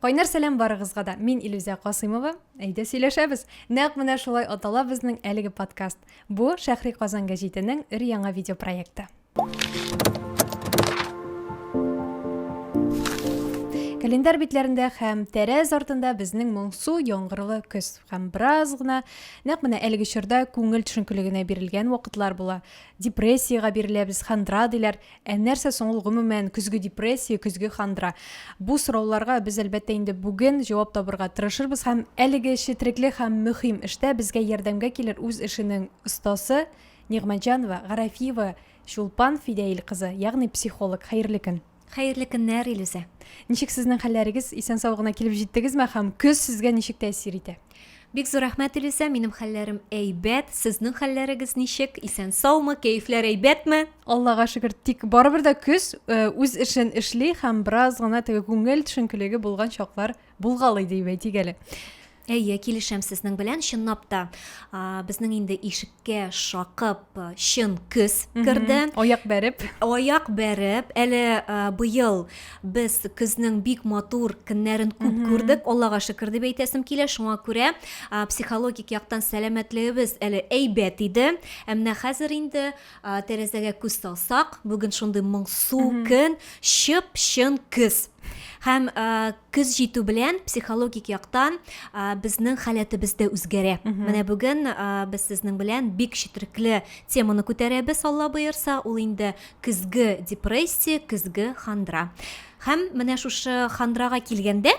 Кайнар сәлам барыгызга да. Мин Илүзә Касыймова. Әйдә сөйләшәбез. Нәкъ менә шулай атала безнең әлеге подкаст. Бу Шәхри Казан гәҗитенең өр яңа видеопроекты. Календар битләрендә һәм тәрәз артында безнең моңсу яңгырлы көз һәм бераз гына нәкъ менә әлеге чорда күңел төшенкелегенә бирелгән вакытлар була. Депрессиягә биреләбез, хандра диләр. Ә нәрсә соң ул гомумән көзге депрессия, көзге хандра? Бу сорауларга без әлбәттә инде бүген җавап табырга тырышырбыз һәм әлеге четрекле һәм мөхим эштә безгә ярдәмгә килер үз эшенең остасы Нигъмәтҗанова Гарәфиева Чулпан Фидәил кызы, ягъни психолог. Хәерле көн. Хәерле көннәр, Илүзә. Ничек сезнең хәлләрегез? Исән-сау гына килеп җиттегезме һәм көз сезгә ничек тәэсир итә? Бик зур рәхмәт, Илүсә. Минем хәлләрем әйбәт. Сезнең хәлләрегез ничек? Исән саумы? Кәефләр әйбәтме? Аллага шөкер, тик барыбер дә көз э, үз эшен эшли һәм бераз гына теге күңел төшенкелеге булган чаклар булгалый дип әйтик әле. Әйе, килешәм сезнең белән, чынлап та. А, безнең инде ишеккә шакып э, чын көз керде. Аяк бәреп. Аяк бәреп, әле э, быел Без көзнең бик матур көннәрен күп күрдек, Аллага шөкер дип әйтәсем килә. Шуңа күрә психологик яктан сәламәтлегебез әле әйбәт иде. Ә менә хәзер инде тәрәзәгә күз салсак, бүген шундый моңсу көн, чып-чын көз. Һәм көз җитү белән психологик яктан безнең халәтебез дә үзгәрә. Менә бүген без сезнең белән бик четерекле теманы күтәрәбез, Алла боерса, ул инде көзге депрессия көзге хандра һәм менә шушы хандрага килгәндә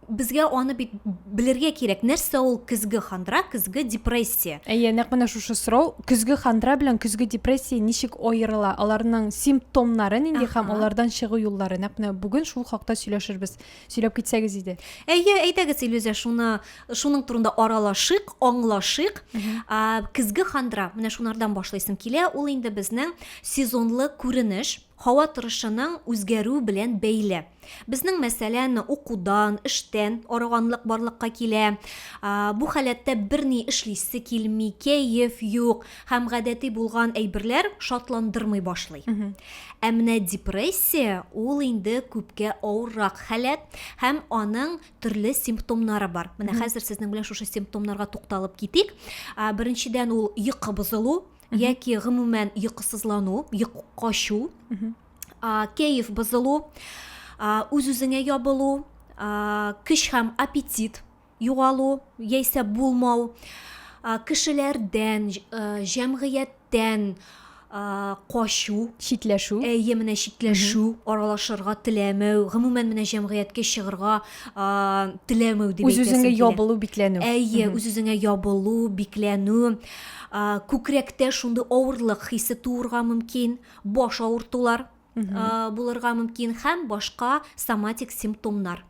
безгә аны бит белергә кирәк нәрсә ул көзге хандра көзге депрессия әйе нәкъ менә шушы сорау көзге хандра белән көзге депрессия ничек аерыла аларның симптомнары нинди һәм алардан чыгу юллары нәкъ менә бүген шул хакта сөйләшербез Сөйләп китсәгез иде. Әйе, әйдәгез, Илюзә, шуны шуның турында аралашыйк, аңлашыйк. А, Көзге хандра, менә шунардан башлыйсым килә. Ул инде безнең сезонлы күренеш, һава торышының үзгәрү белән бәйле. Безнең мәсәлән, укудан, эштән арыганлык барлыкка килә. А, Бу халәттә берни эшлисе килми, кәеф юк. һәм гадәти булган әйберләр шатландырмый башлый. Ә менә депрессия ул инде күпкә авыррак халәт һәм аның төрле симптомнары бар. Менә хәзер сезнең белән шушы симптомнарга тукталып китик. Беренчедән ул йокы бозылу яки гомумән йокысызлану, йок качу, кәеф бозылу, үз-үзеңә ябылу, көч һәм аппетит югалу яисә булмау, кешеләрдән, җәмгыятьтән качу, читләшү. Әйе, менә читләшү, аралашырга теләмәү, гомумән менә җәмгыятькә чыгарга теләмәү дип әйтәсем килә. Үз-үзеңә ябылу, бикләнү. Әйе, үз-үзеңә ябылу, бикләнү. Күкрәктә шундый авырлык хисе туырга мөмкин, баш авыртулар булырга мөмкин һәм башка соматик симптомнар.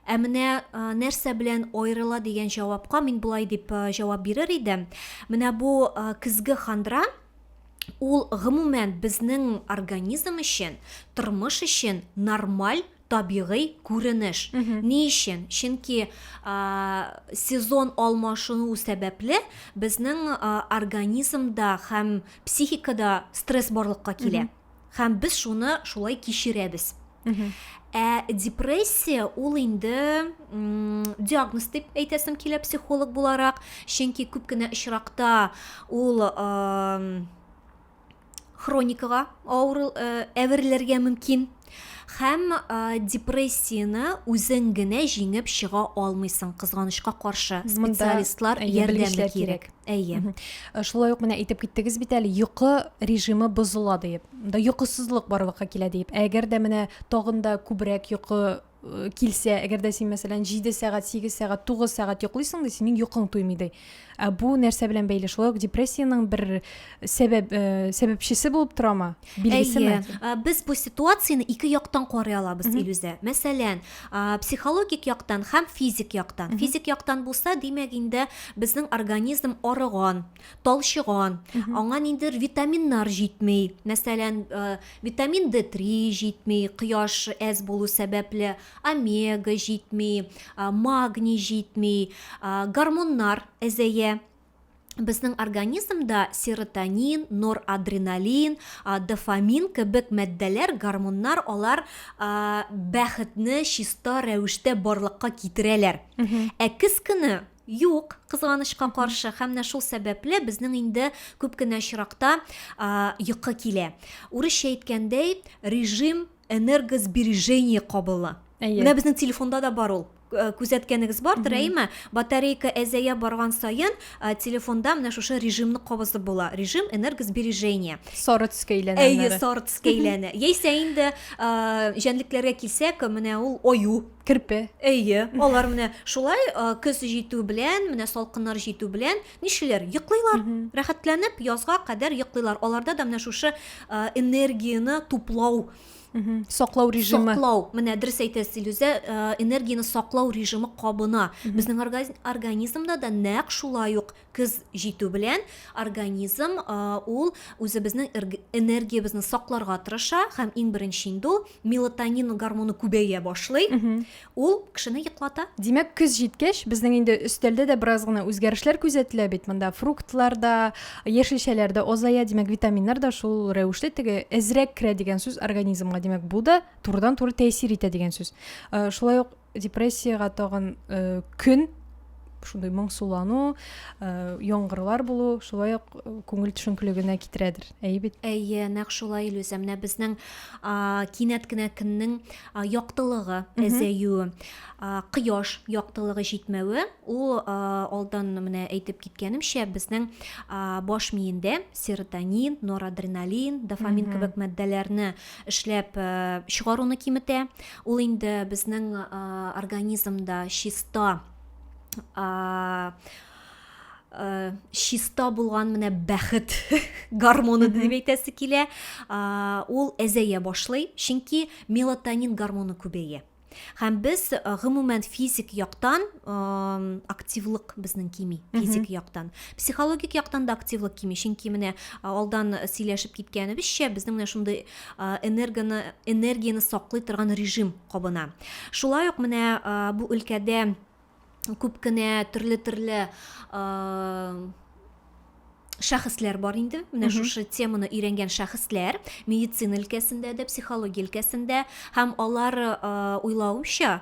Ә менә нәрсә белән аерыла дигән җавапка мин болай дип җавап бирер идем. Менә бу көзге хандра ул гомумән безнең организм өчен, тормыш өчен нормаль табигый күренеш. Ни өчен? Чөнки сезон алмашынуы сәбәпле безнең организмда һәм психикада стресс барлыкка килә. һәм без шуны шулай кичерәбез ә депрессия ул инде диагноз дип әйтәсем килә психолог буларак чөнки күп кенә очракта ул хроникага авыру э, әверелергә мөмкин һәм э, депрессияны үзең генә җиңеп чыга алмыйсың кызганычка каршы специалистлар ярдәме кирәк Әйе. Э, шулай ук менә әйтеп киттегез бит әле, йокы режимы бозыла диеп. Да йокысызлык барлыкка килә диеп. Әгәр дә менә тагын да күбрәк йокы э, килсә, әгәр дә син мәсәлән 7 сәгать, 8 сәгать, 9 сәгать йоклыйсың да синең йокың туймый ди. Ә бу нәрсә белән бәйле? Шулай ук депрессиянең бер сәбәп э, сәбәпчесе булып торамы? билгесеме ә, без бу ситуацияне ике яктан карый алабыз илүзә мәсәлән ә, психологик яктан һәм физик яктан Үху. физик яктан булса димәк инде безнең организм арыган талчыган аңа ниндидер витаминнар җитми мәсәлән ә, витамин д три җитми кояш әз булу сәбәпле омега җитми ә, магний җитми ә, гормоннар әзәя безнең организмда серотонин, норадреналин, дофамин кебек матдәләр, гормоннар, алар бәхетне чиста рәвештә барлыкка китерәләр. Ә кыз көне юк, кызганычка каршы, һәм менә шул сәбәпле безнең инде күп кенә очракта йокы килә. Урысча әйткәндәй, режим энергосбережение кабыла Әйе. менә безнең телефонда да бар ул Э, күзәткәнегез бардыр әйеме батарейка әзәя барган саен э, телефонда менә шушы режимны кабызып була режим энергосбережения сары төскә әйләнә әйе сары төскә әйләнә яисә инде э, җәнлекләргә килсәк менә ул аю керпе әйе алар менә шулай көз җитү белән менә салкыннар җитү белән Нишлиләр? Йоклыйлар. Рәхәтләнеп язга кадәр йоклыйлар. Аларда да менә шушы э, энергияне туплау саклау режимы саклау менә дөрес әйтәсез илүзә э, энергияне саклау режимы кабына безнең организмда да нәкъ шулай ук көз җитү белән организм э, ул үзебезнең энергиябезне сакларга тырыша һәм иң беренче инде ул мелатонин гормоны күбәя башлый ул кешене йоклата димәк көз җиткәч безнең инде өстәлдә дә бераз гына үзгәрешләр күзәтелә бит монда фруктлар да яшелчәләр дә азая димәк витаминнар да шул рәвешле теге әзрәк керә дигән сүз организмга димәк бу да турыдан туры тәэсир итә дигән сүз э, шулай ук депрессиягә тагын э, көн шундый моңсулану э, яңгырлар булу шулай ук э, күңел төшенкелегенә китерәдер әйе бит әйе нәкъ шулай илүзә менә безнең кинәт кенә көннең яктылыгы әзәюе кояш яктылыгы җитмәве ул алдан менә әйтеп киткәнемчә безнең баш миендә серотонин норадреналин дофамин кебек матдәләрне эшләп чыгаруны киметә Ул инде безнең организмда чиста чиста булган менә бәхет гормоны дип әйтәсе килә. Ул әзәя башлый, чөнки мелатонин гормоны күбәя. Һәм без гомумән физик яктан активлык безнең кими, физик яктан. Психологик яктан да активлык кими, чөнки менә алдан сөйләшеп киткәнебезчә, безнең менә шундый энергоны, энергияне саклый торган режим кабына. Шулай ук менә бу өлкәдә күп кенә төрле-төрле шәхесләр бар инде менә шушы теманы өйрәнгән шәхесләр медицина өлкәсендә дә психология өлкәсендә һәм алар уйлавымча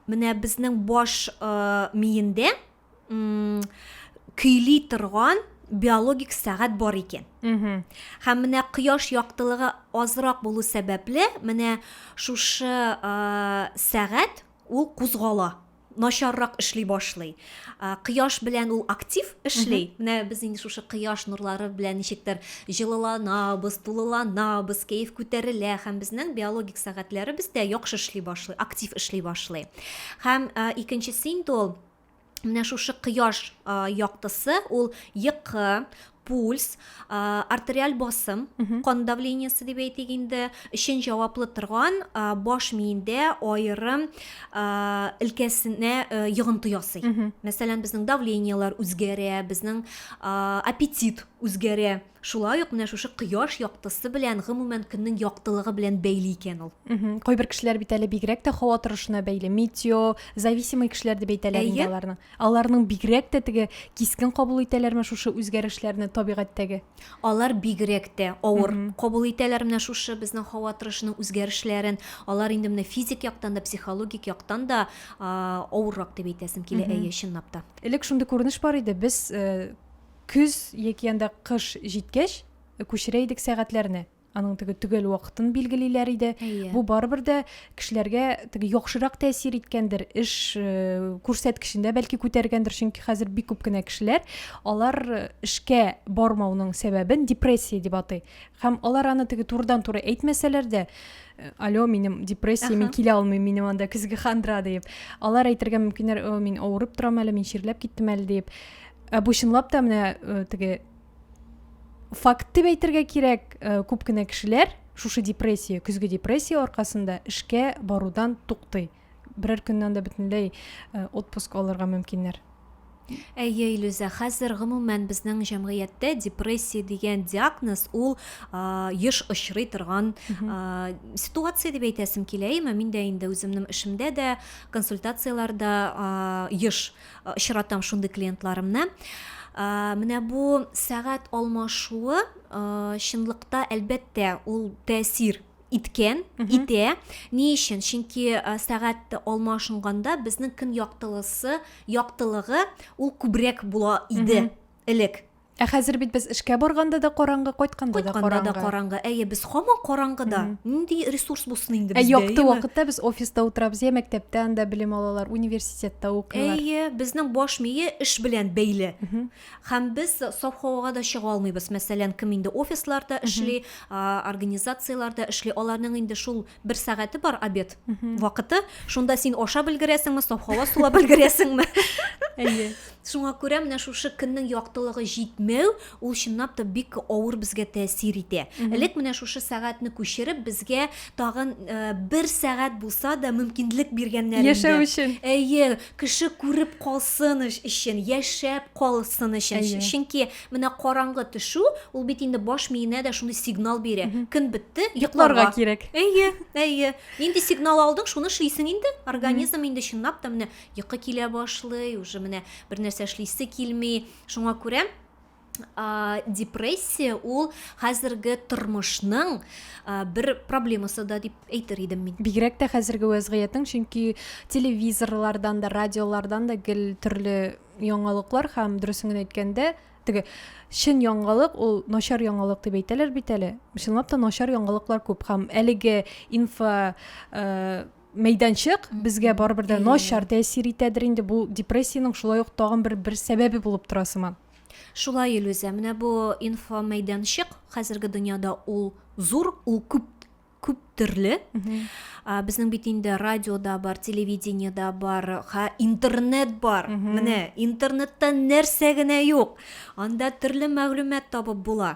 менә безнең баш миендә көйли торган биологик сәгать бар икән. Һәм менә кояш яктылыгы азрак булу сәбәпле, менә шушы ә, сәгать ул кузгала начаррак эшли башлый. Кояш белән ул актив эшли. Менә без инде шушы кояш нурлары белән ничектер җылыланабыз, тулыланабыз, кәеф күтәрелә һәм безнең биологик сәгатьләребез дә яхшы эшли башлый, актив эшли башлый. Һәм икенчесе инде ул менә шушы кояш яктысы ул йокы пульс артериаль басым кан давлениесе дип әйтик инде өчен җаваплы торган баш миендә аерым өлкәсенә йогынты ясый мәсәлән безнең давлениелар үзгәрә безнең аппетит үзгәрә Шулай ук менә шушы кояш яктысы белән, гомумән, көннең яктылыгы белән бәйле икән ул. Кайбер кешеләр бит әле бигрәк тә һава торышына бәйле, метео, зависимый кешеләр дип әйтәләр инде аларны. Аларның бигрәк тә теге кискен кабул итәләрме шушы үзгәрешләрне табигатьтәге? Алар бигрәк тә авыр кабул итәләр менә шушы безнең һава торышының үзгәрешләрен. Алар инде менә физик яктан да, психологик яктан да авыррак дип әйтәсем килә, әйе, чынлап та. Элек шундый күренеш бар иде, без э, Көз яки анда кыш җиткәч, күчерә идек сәгатьләрне. Аның теге төгәл вакытын билгелиләр иде. Әйе. Бу барыбер дә кешеләргә теге яхшырак тәэсир иткәндер, эш күрсәткечендә бәлки күтәргәндер, чөнки хәзер бик күп кенә кешеләр алар эшкә бармауның сәбәбен депрессия дип атый. Һәм алар аны теге турыдан-туры әйтмәсәләр дә, алло, минем депрессия, мин килә алмыйм, минем анда көзге хандра дип. Алар әйтергә мөмкиннәр, мин авырып торам әле, мин чирләп киттем әле дип. ә бу чынлап та менә э, теге факт дип әйтергә кирәк э, күп кенә кешеләр шушы депрессия көзге депрессия аркасында эшкә барудан туктый берәр көннән дә бөтенләй э, отпуск алырга мөмкиннәр Әйе, Илюзә, хәзер гомумән безнең җәмгыятьтә депрессия дигән диагноз ул а, еш очрый торган а, ситуация дип әйтәсем килә. Әмма мин дә инде үземнең эшемдә дә, консультацияләрдә а, еш очратам шундый клиентларымны. Менә бу сәгать алмашуы чынлыкта әлбәттә ул тәэсир иткән, итә. Ни өчен? Чөнки сәгать алмашынганда безнең көн яктылысы, яктылыгы ул күбрәк була иде элек. Ә хәзер бит без эшкә барганда да караңгы, кайтканда да Кайтканда да караңгы. караңгы. Әйе, без хаман караңгыда. Нинди ресурс булсын инде Ә бездә, якты әйеме? вакытта без офиста утырабыз, я мәктәптә анда белем алалар, университетта укыйлар. Әйе, безнең баш мие эш белән бәйле. Һәм без саф һавага да чыга алмыйбыз. Мәсәлән, кем инде офисларда эшли, а, организацияләрдә эшли, аларның инде шул бер сәгате бар обед вакыты шунда син ашап өлгерәсеңме саф һава сулап өлгерәсеңме әйе шуңа күрә менә шушы көннең яктылыгы җитмәү ул чынлап та бик авыр безгә тәэсир итә элек менә шушы сәгатьне күчереп безгә тагын э, бер сәгать булса да мөмкинлек биргәннәр яшәү өчен әйе кеше күреп калсын өчен яшәп калсын өчен чөнки Менә караңгы төшү, ул бит инде баш миенә дә шундый сигнал бирә. Көн бетте, йокларга кирәк. Әйе, әйе. Нинди сигнал алдың, шуны эшлисең инде. Организм инде чынлап та менә йокы килә башлый, уже менә бер нәрсә эшлисе килми. Шуңа күрә депрессия ул хәзерге тормышның бер проблемасы да дип әйтер идем мин. Бигрәк тә хәзерге вәзгыятең, чөнки телевизорлардан да, радиолардан да гел төрле яңалыклар һәм дөресен генә әйткәндә теге чын яңалык ул начар яңалык дип әйтәләр бит әле чынлап та начар яңалыклар күп һәм әлеге инфо э, мәйданчык безгә барыбер дә начар тәэсир итәдер инде бу депрессиянең шулай ук тагын бер бер сәбәбе булып тора сыман шулай илүзә менә бу инфо мәйданчык хәзерге дөньяда ул зур ул күп күп төрле ә, безнең бит инде радиода бар телевидениеда бар ха интернет бар менә интернетта нәрсә генә юк анда төрле мәгълүмат табып була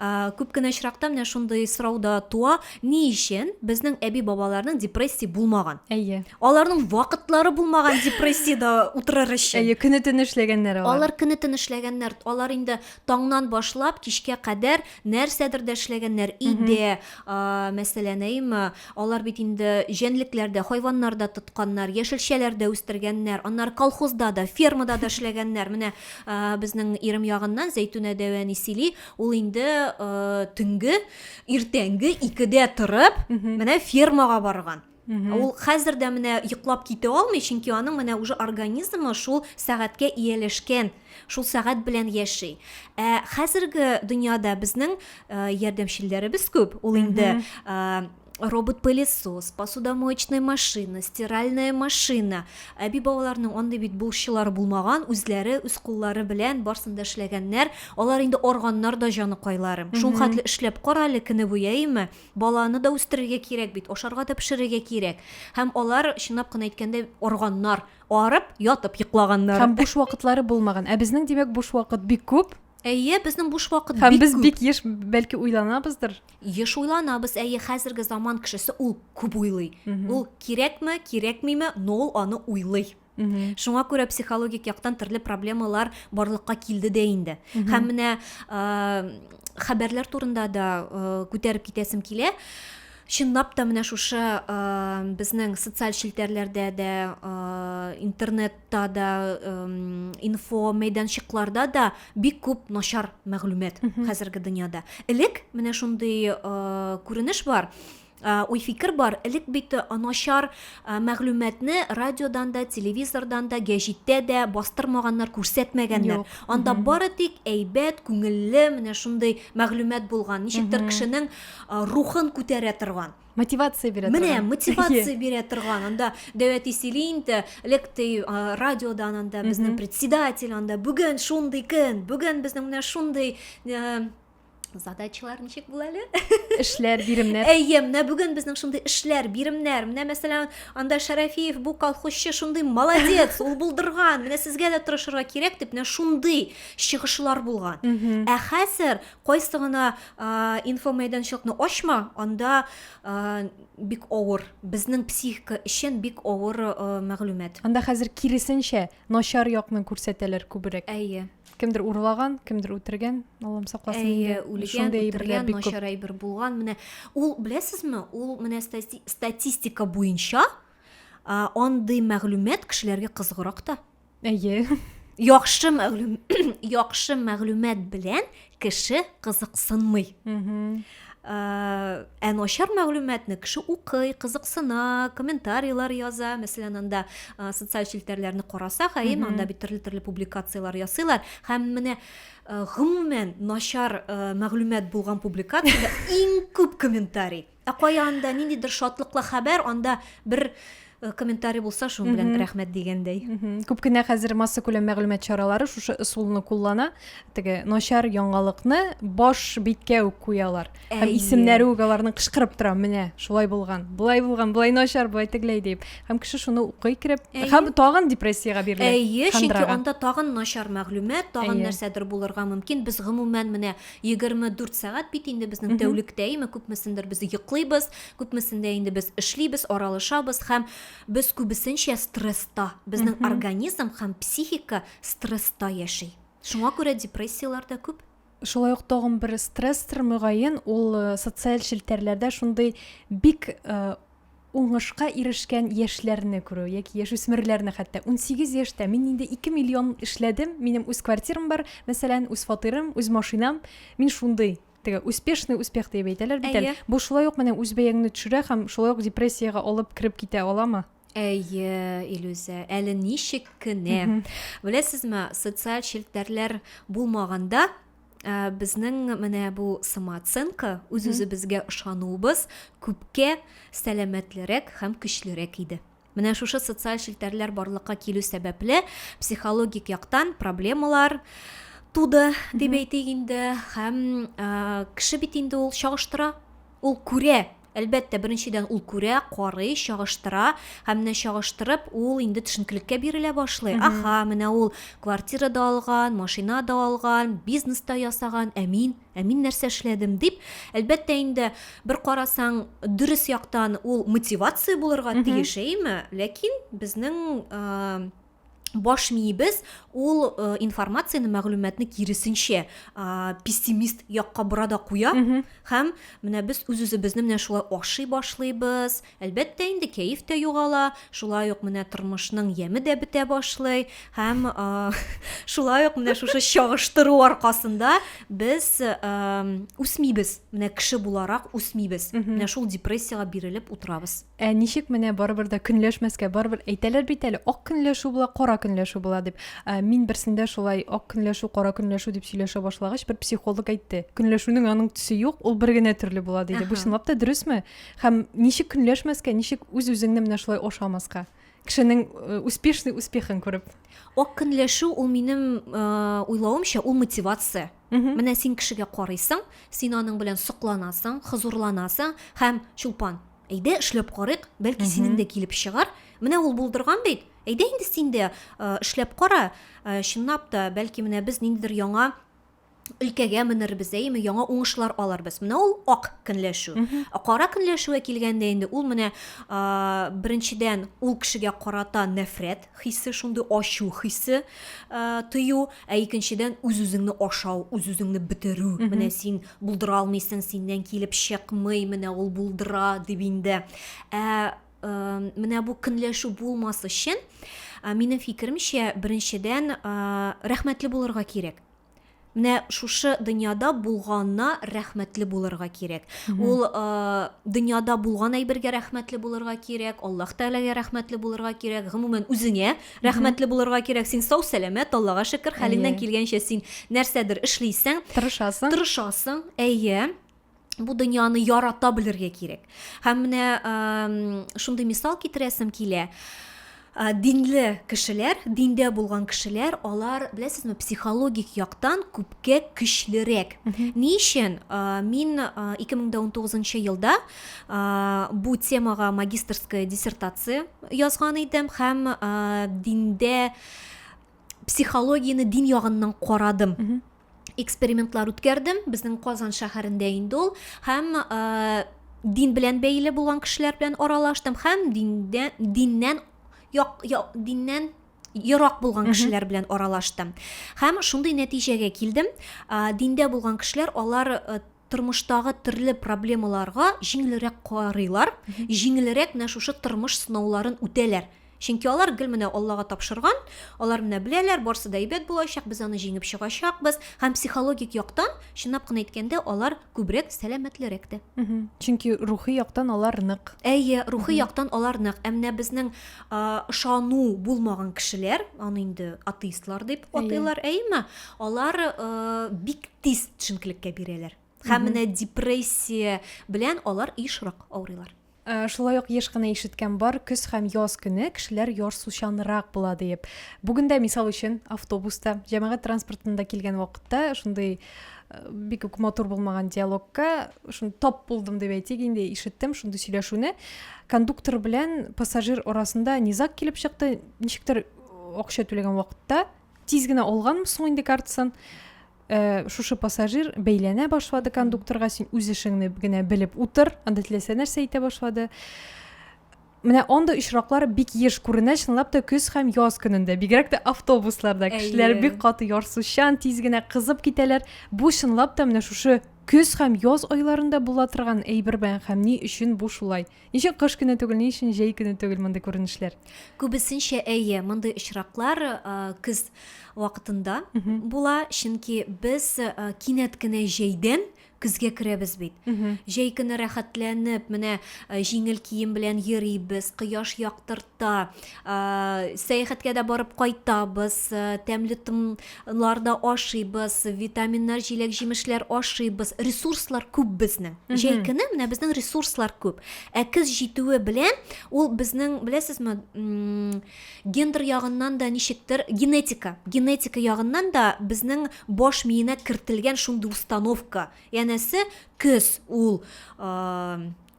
ә, күп кенә очракта менә шундый сорау да туа ни өчен безнең әби бабаларның депрессия булмаган әйе аларның вакытлары булмаган депрессиядә утырыр өчен әйе көне төне эшләгәннәр алар алар көне төне эшләгәннәр алар инде таңнан башлап кичкә кадәр нәрсәдер дә эшләгәннәр, өйдә, а, мәсәлән, әйеме, алар бит инде җәнлекләр дә, хайваннар да тотканнар, яшелчәләр дә үстергәннәр, аннары колхозда да, фермада да эшләгәннәр. Менә а, безнең Ирем ягыннан Зәйтүнә дәү әни сөйли, ул инде а, төнге, иртәнге икедә торып, менә фермага барган. Ул хәзер дә менә йоклап китә алмый, чөнки аның менә уже организмы шул сәгатькә ияләшкән, шул сәгать белән яши. Ә хәзерге дөньяда безнең э, ярдәмчелләребез күп. Ул инде э, робот-пылесос, посудомоечная машина, стиральная машина. Әби бабаларның андый бит булышчылары булмаган, үзләре үз куллары белән барсын да эшләгәннәр. Алар инде органнар да җаныкайлары. Шул хәтле эшләп кара әле көне буе, әйеме? Баланы да үстерергә кирәк бит, ашарга да пешерергә кирәк. Һәм алар, чынлап кына әйткәндә, арганнар, арып, ятып йоклаганнар. Һәм буш вакытлары булмаган. Ә безнең, димәк, буш вакыт бик күп. Әйе, безнең буш вакыт Һәм бик без күп. бик еш, бәлки, уйланабыздыр. Еш уйланабыз, әйе, хәзерге заман кешесе ул күп уйлый. Ул кирәкме, кирәкмиме, но ул аны уйлый. Угу. Шуңа күрә психологик яктан төрле проблемалар барлыкка килде дә инде. Угу. Һәм менә э, хәбәрләр турында да э, күтәреп китәсем килә. Чынлап та менә шушы э, безнең социаль челтәрләрдә дә, э, интернетта да, э, инфо мәйданчыкларда да бик күп начар мәгълүмат хәзерге дөньяда. Элек менә шундый э, күренеш бар. Уй-фикер бар, элек бит начар мәгълүматны радиодан да, телевизордан да, гәҗиттә дә бастырмаганнар, күрсәтмәгәннәр. Анда бары тик әйбәт, күңелле, менә шундый мәгълүмат булган, ничектер кешенең рухын күтәрә торган. Мотивация бирә торган. Менә мотивация бирә торган. Анда Дәвәти сөйли инде, элек ди радиодан анда безнең председатель анда бүген шундый көн, бүген безнең менә шундый задачалар ничек була әле эшләр биремнәр әйе менә бүген безнең шундый эшләр биремнәр менә мәсәлән анда шәрәфиев бу колхозчы шундый молодец ул булдырган менә сезгә дә тырышырга кирәк дип менә шундый чыгышлар булган ә хәзер кайсы гына инфомәйданчыкны ачма анда бик авыр безнең психика өчен бик авыр мәгълүмат анда хәзер киресенчә начар якны күрсәтәләр күбрәк әйе кемдер урлаган кемдер үтергән аллам сакласын әйе үлгән үтергән начар әйбер булган менә ул беләсезме ул менә статистика буенча андый мәгълүмат кешеләргә кызыграк та әйе яхшы мәгълүм яхшы мәгълүмат белән кеше кызыксынмый Ә начар мәгълүматны кеше укый, кызыксына, комментарийлар яза. Мәсәлән, анда социаль челтәрләрне карасак, әйе, анда бит төрле-төрле публикацияләр ясыйлар. Һәм менә гомумән начар мәгълүмат булган публикациядә иң күп комментарий. Ә кая анда ниндидер шатлыклы хәбәр, анда бер Э, комментарий булса шуң белән рәхмәт дигәндәй күп кенә хәзер масса күләм мәгълүмат чаралары шушы ысулны куллана теге начар яңалыкны баш биткә үк куялар һәм исемнәре үк аларның кычкырып тора менә шулай булган болай булган болай начар болай тегеләй дип һәм кеше шуны укый кереп һәм тагын депрессиягә бирелә әйе чөнки анда тагын начар мәгълүмат тагын нәрсәдер булырга мөмкин без гомумән менә 24 сәгать бит инде безнең тәүлектә име күпмесендер без йоклыйбыз, күпмесендә инде без эшлибез, аралышабыз һәм без күбесенчә стресста. Безнең организм һәм психика стресста яши. Шуңа күрә депрессияләр дә күп. Шулай ук тагын бер стрессор мөгаен ул э, социаль челтәрләрдә шундый бик э, уңышка ирешкән яшьләрне күрү, яки яшүсмерләрне хәтта. Унсигез яшьтә мин инде ике миллион эшләдем, минем үз квартирам бар, мәсәлән, үз фатирым, үз машинам. Мин шундый, теге успешный успех диеп әйтәләр бит әле. Бу шулай ук менә үз бәяңне төшерә һәм шулай ук депрессиягә алып кереп китә аламы? Әйе, Илүзә, әле ничек кенә. Беләсезме, социаль челтәрләр булмаганда, ә, безнең менә бу самооценка, үз-үзебезгә ышануыбыз күпкә сәламәтлерәк һәм көчлерәк иде. Менә шушы социаль челтәрләр барлыкка килү сәбәпле психологик яктан проблемалар туды дип әйтик инде һәм ә, кеше бит инде ул чагыштыра, ул күрә Әлбәттә, беренчедән, ул күрә, карый, чагыштыра һәм менә чагыштырып, ул инде төшенкелеккә бирелә башлый. Аха, менә ул квартира да алган, машина да алган, бизнес та ясаган, ә мин, ә мин нәрсә эшләдем, дип. Әлбәттә инде, бер карасаң, дөрес яктан ул мотивация булырга тиеш, әйеме? Ләкин безнең баш миебез ул э, информацияне мәгълүматны киресенчә э, пессимист якка бора да куя һәм менә без үз үзебезне менә шулай ашый башлыйбыз әлбәттә инде кәеф тә югала шулай ук менә тормышның яме дә бетә башлый һәм э, шулай ук менә шушы чагыштыру аркасында без үсмибез менә кеше буларак үсмибез менә шул депрессиягә бирелеп утырабыз Ә ничек менә барыбер дә көнләшмәскә, барыбер әйтәләр бит әле, ак көнләшү була, кара көнләшү була дип. Ә, мин берсендә шулай ак көнләшү, кара көнләшү дип сөйләшә башлагач, бер психолог әйтте. Көнләшүнең аның төсе юк, ул бер генә төрле була диде. Бу чынлап та дөресме? Һәм ничек көнләшмәскә, ничек үз-үзеңне менә шулай ашамаска? Кешенең э, успешный успехын күреп. Ак көнләшү ул минем э, уйлавымча ул мотивация. Менә син кешегә карыйсың, син аның белән сокланасың, хозурланасың һәм чулпан, Әйдә, эшләп карыйк, бәлки синең дә килеп чыгар. Менә ул булдырган бит. Әйдә инде син дә эшләп кара. Чынлап та, бәлки менә без ниндидер яңа өлкәгә менербез, әйеме, яңа уңышлар алырбыз. Менә ул ак көнләшү. Ә кара көнләшүгә килгәндә инде ул менә беренчедән ул кешегә карата нәфрәт хисе, шундый ачу хисе ә, тыю, ә икенчедән үз-үзеңне ашау, үз-үзеңне бетерү. Менә син булдыра алмыйсың, синнән килеп чыкмый, менә ул булдыра дип инде. Ә, ә менә бу көнләшү булмас өчен, ә, минем фикеремчә, беренчедән, ә, рәхмәтле булырга кирәк. Менә шушы дөньяда булганна рәхмәтле булырга кирәк. Ул дөньяда булган әйбергә рәхмәтле булырга кирәк, Аллаһ Тәгаләгә рәхмәтле булырга кирәк, гомумән үзеңә рәхмәтле булырга кирәк. Син сау, сәламәт, Аллага шөкер, хәлеңнән килгәнчә син нәрсәдер эшлисең. Тырышасың. Тырышасың, әйе. бу дөньяны ярата белергә кирәк һәм менә шундый мисал китерәсем килә Э, динле кешеләр диндә булган кешеләр алар беләсезме психологик яктан күпкә көчлерәк ни өчен э, мин 2019 э, елда бу темага магистрская диссертация язган идем һәм диндә психологияне дин ягыннан карадым экспериментлар үткәрдем безнең казан шәһәрендә инде ул һәм дин белән бәйле булган кешеләр белән аралаштым һәм диндә, диннән як, як, диннән ерак булган кешеләр белән аралаштым һәм шундый нәтиҗәгә килдем ә, диндә булган кешеләр алар тормыштагы төрле проблемаларга җиңелрәк карыйлар, җиңелрәк менә шушы тормыш сынауларын үтәләр. Чөнки алар гел менә Аллага тапшырган, алар менә беләләр, барсы да әйбәт булачак, без аны җиңеп чыгачакбыз. Һәм психологик яктан, чынлап кына әйткәндә, алар күбрәк сәламәтлерәк тә. Чөнки рухи яктан алар нык. Әйе, рухи яктан алар нык. Ә менә безнең ышану булмаган кешеләр, аны инде атеистлар дип атыйлар, әйеме? алар бик тиз төшенкелеккә бирәләр һәм менә депрессия белән алар ешрак авырыйлар Э, шулай ук еш кына ишеткән бар көз һәм яз көне кешеләр ярсучанрак була диеп бүген дә мисал өчен автобуста җәмәгать транспортында килгән вакытта шундый э, бик үк матур булмаган диалогка шуны топ булдым дип әйтик инде ишеттем шундый сөйләшүне кондуктор белән пассажир арасында низаг килеп чыкты ничектер акча түләгән вакытта Тиз генә алганмы соң инде картасын? Ә, шушы пассажир бәйләнә башлады кондукторга, син үз эшеңне генә белеп утыр, анда теләсә нәрсә әйтә башлады. Менә анда очраклар бик еш күренә, чынлап та көз һәм яз көнендә, бигрәк тә автобусларда кешеләр бик каты ярсучан, тиз генә кызып китәләр. Бу чынлап та менә шушы көз һәм яз айларында була торган әйберме һәм ни өчен бу шулай? Ничек кыш көне түгел, ни өчен җәй көне түгел мондый күренешләр? Күбесенчә әйе, мондый очраклар көз вакытында була, чөнки без кинәт кенә җәйдән көзгә керәбез бит. Җәй көне рәхәтләнеп, менә җиңел кием белән йөрибез, кояш яктырта, сәяхәткә дә барып кайтабыз тәмле тыннар да ашыйбыз витаминнар җиләк җимешләр ашыйбыз ресурслар күп безнең җәй көне менә безнең ресурслар күп ә көз җитүе белән ул безнең беләсезме гендер ягыннан да ничектер генетика генетика ягыннан да безнең баш миенә кертелгән шундый установка янәсе көз ул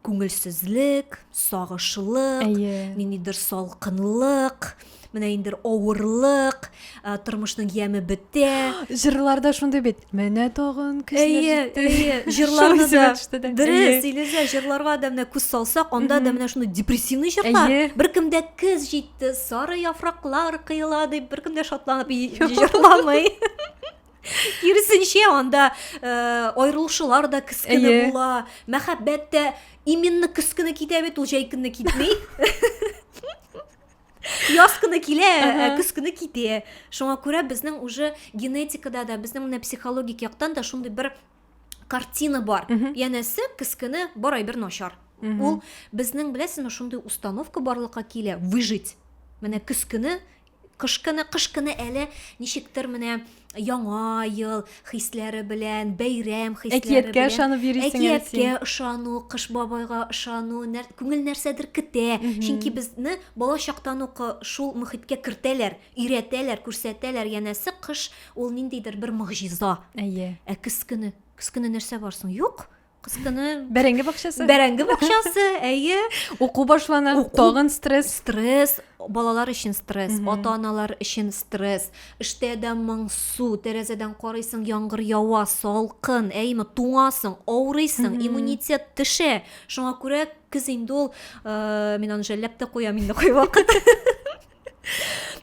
Күңелсезлек, сагышлык, Әйе. ниндидер салкынлык, менә инде авырлык, ә, тормышның яме бетә. Җырларда шундый бит. Менә тагын көчләр Әйе, җитте. әйе, җырларны Шул исемә да. төште дә. Дөрес, Әйе. Илүзә, җырларга да менә күз салсак, анда да менә шундый депрессивный җырлар. Әйе. Беркемдә көз җитте, сары яфраклар кыела дип, беркем дә шатланып и- җырламый. киресенчә анда э, аерылышулар да кескене Әйе. була мәхәббәт тә именно кескене китә бит ул җәй көнне китми яз көне килә ә көз көне китә шуңа күрә безнең уже генетикада да безнең менә психологик яктан да шундый бер картина бар янәсе көз көне борай бер начар ул безнең беләсезме шундый установка барлыкка килә выжить менә көз көне Кышкыны, кышкыны әле ничектер менә Яңа ел хисләре белән, бәйрәм хисләре Әкияткә белән. ышанып йөрисең әле Әкияткә син. ышану, Кыш бабайга ышану, нәр- күңел нәрсәдер көтә. Чөнки безне бала чактан ук э, шул мөхиткә кертәләр, өйрәтәләр, күрсәтәләр, янәсе, кыш ул ниндидер бер могҗиза. Әйе. Ә көз көне? Көз көне нәрсә бар соң? Юк, Кыз көне. Бәрәңге бакчасы. Бәрәңге бакчасы, әйе. Уку башлана, тагын стресс. Стресс, балалар өчен стресс, ата-аналар өчен стресс. Эштә дә моңсу, тәрәзәдән карыйсың, яңгыр ява, салкын, әйеме, туңасың, авырыйсың, иммунитет төшә. Шуңа күрә көз инде ул, э, мин аны жәлләп тә куям инде кайвакыт.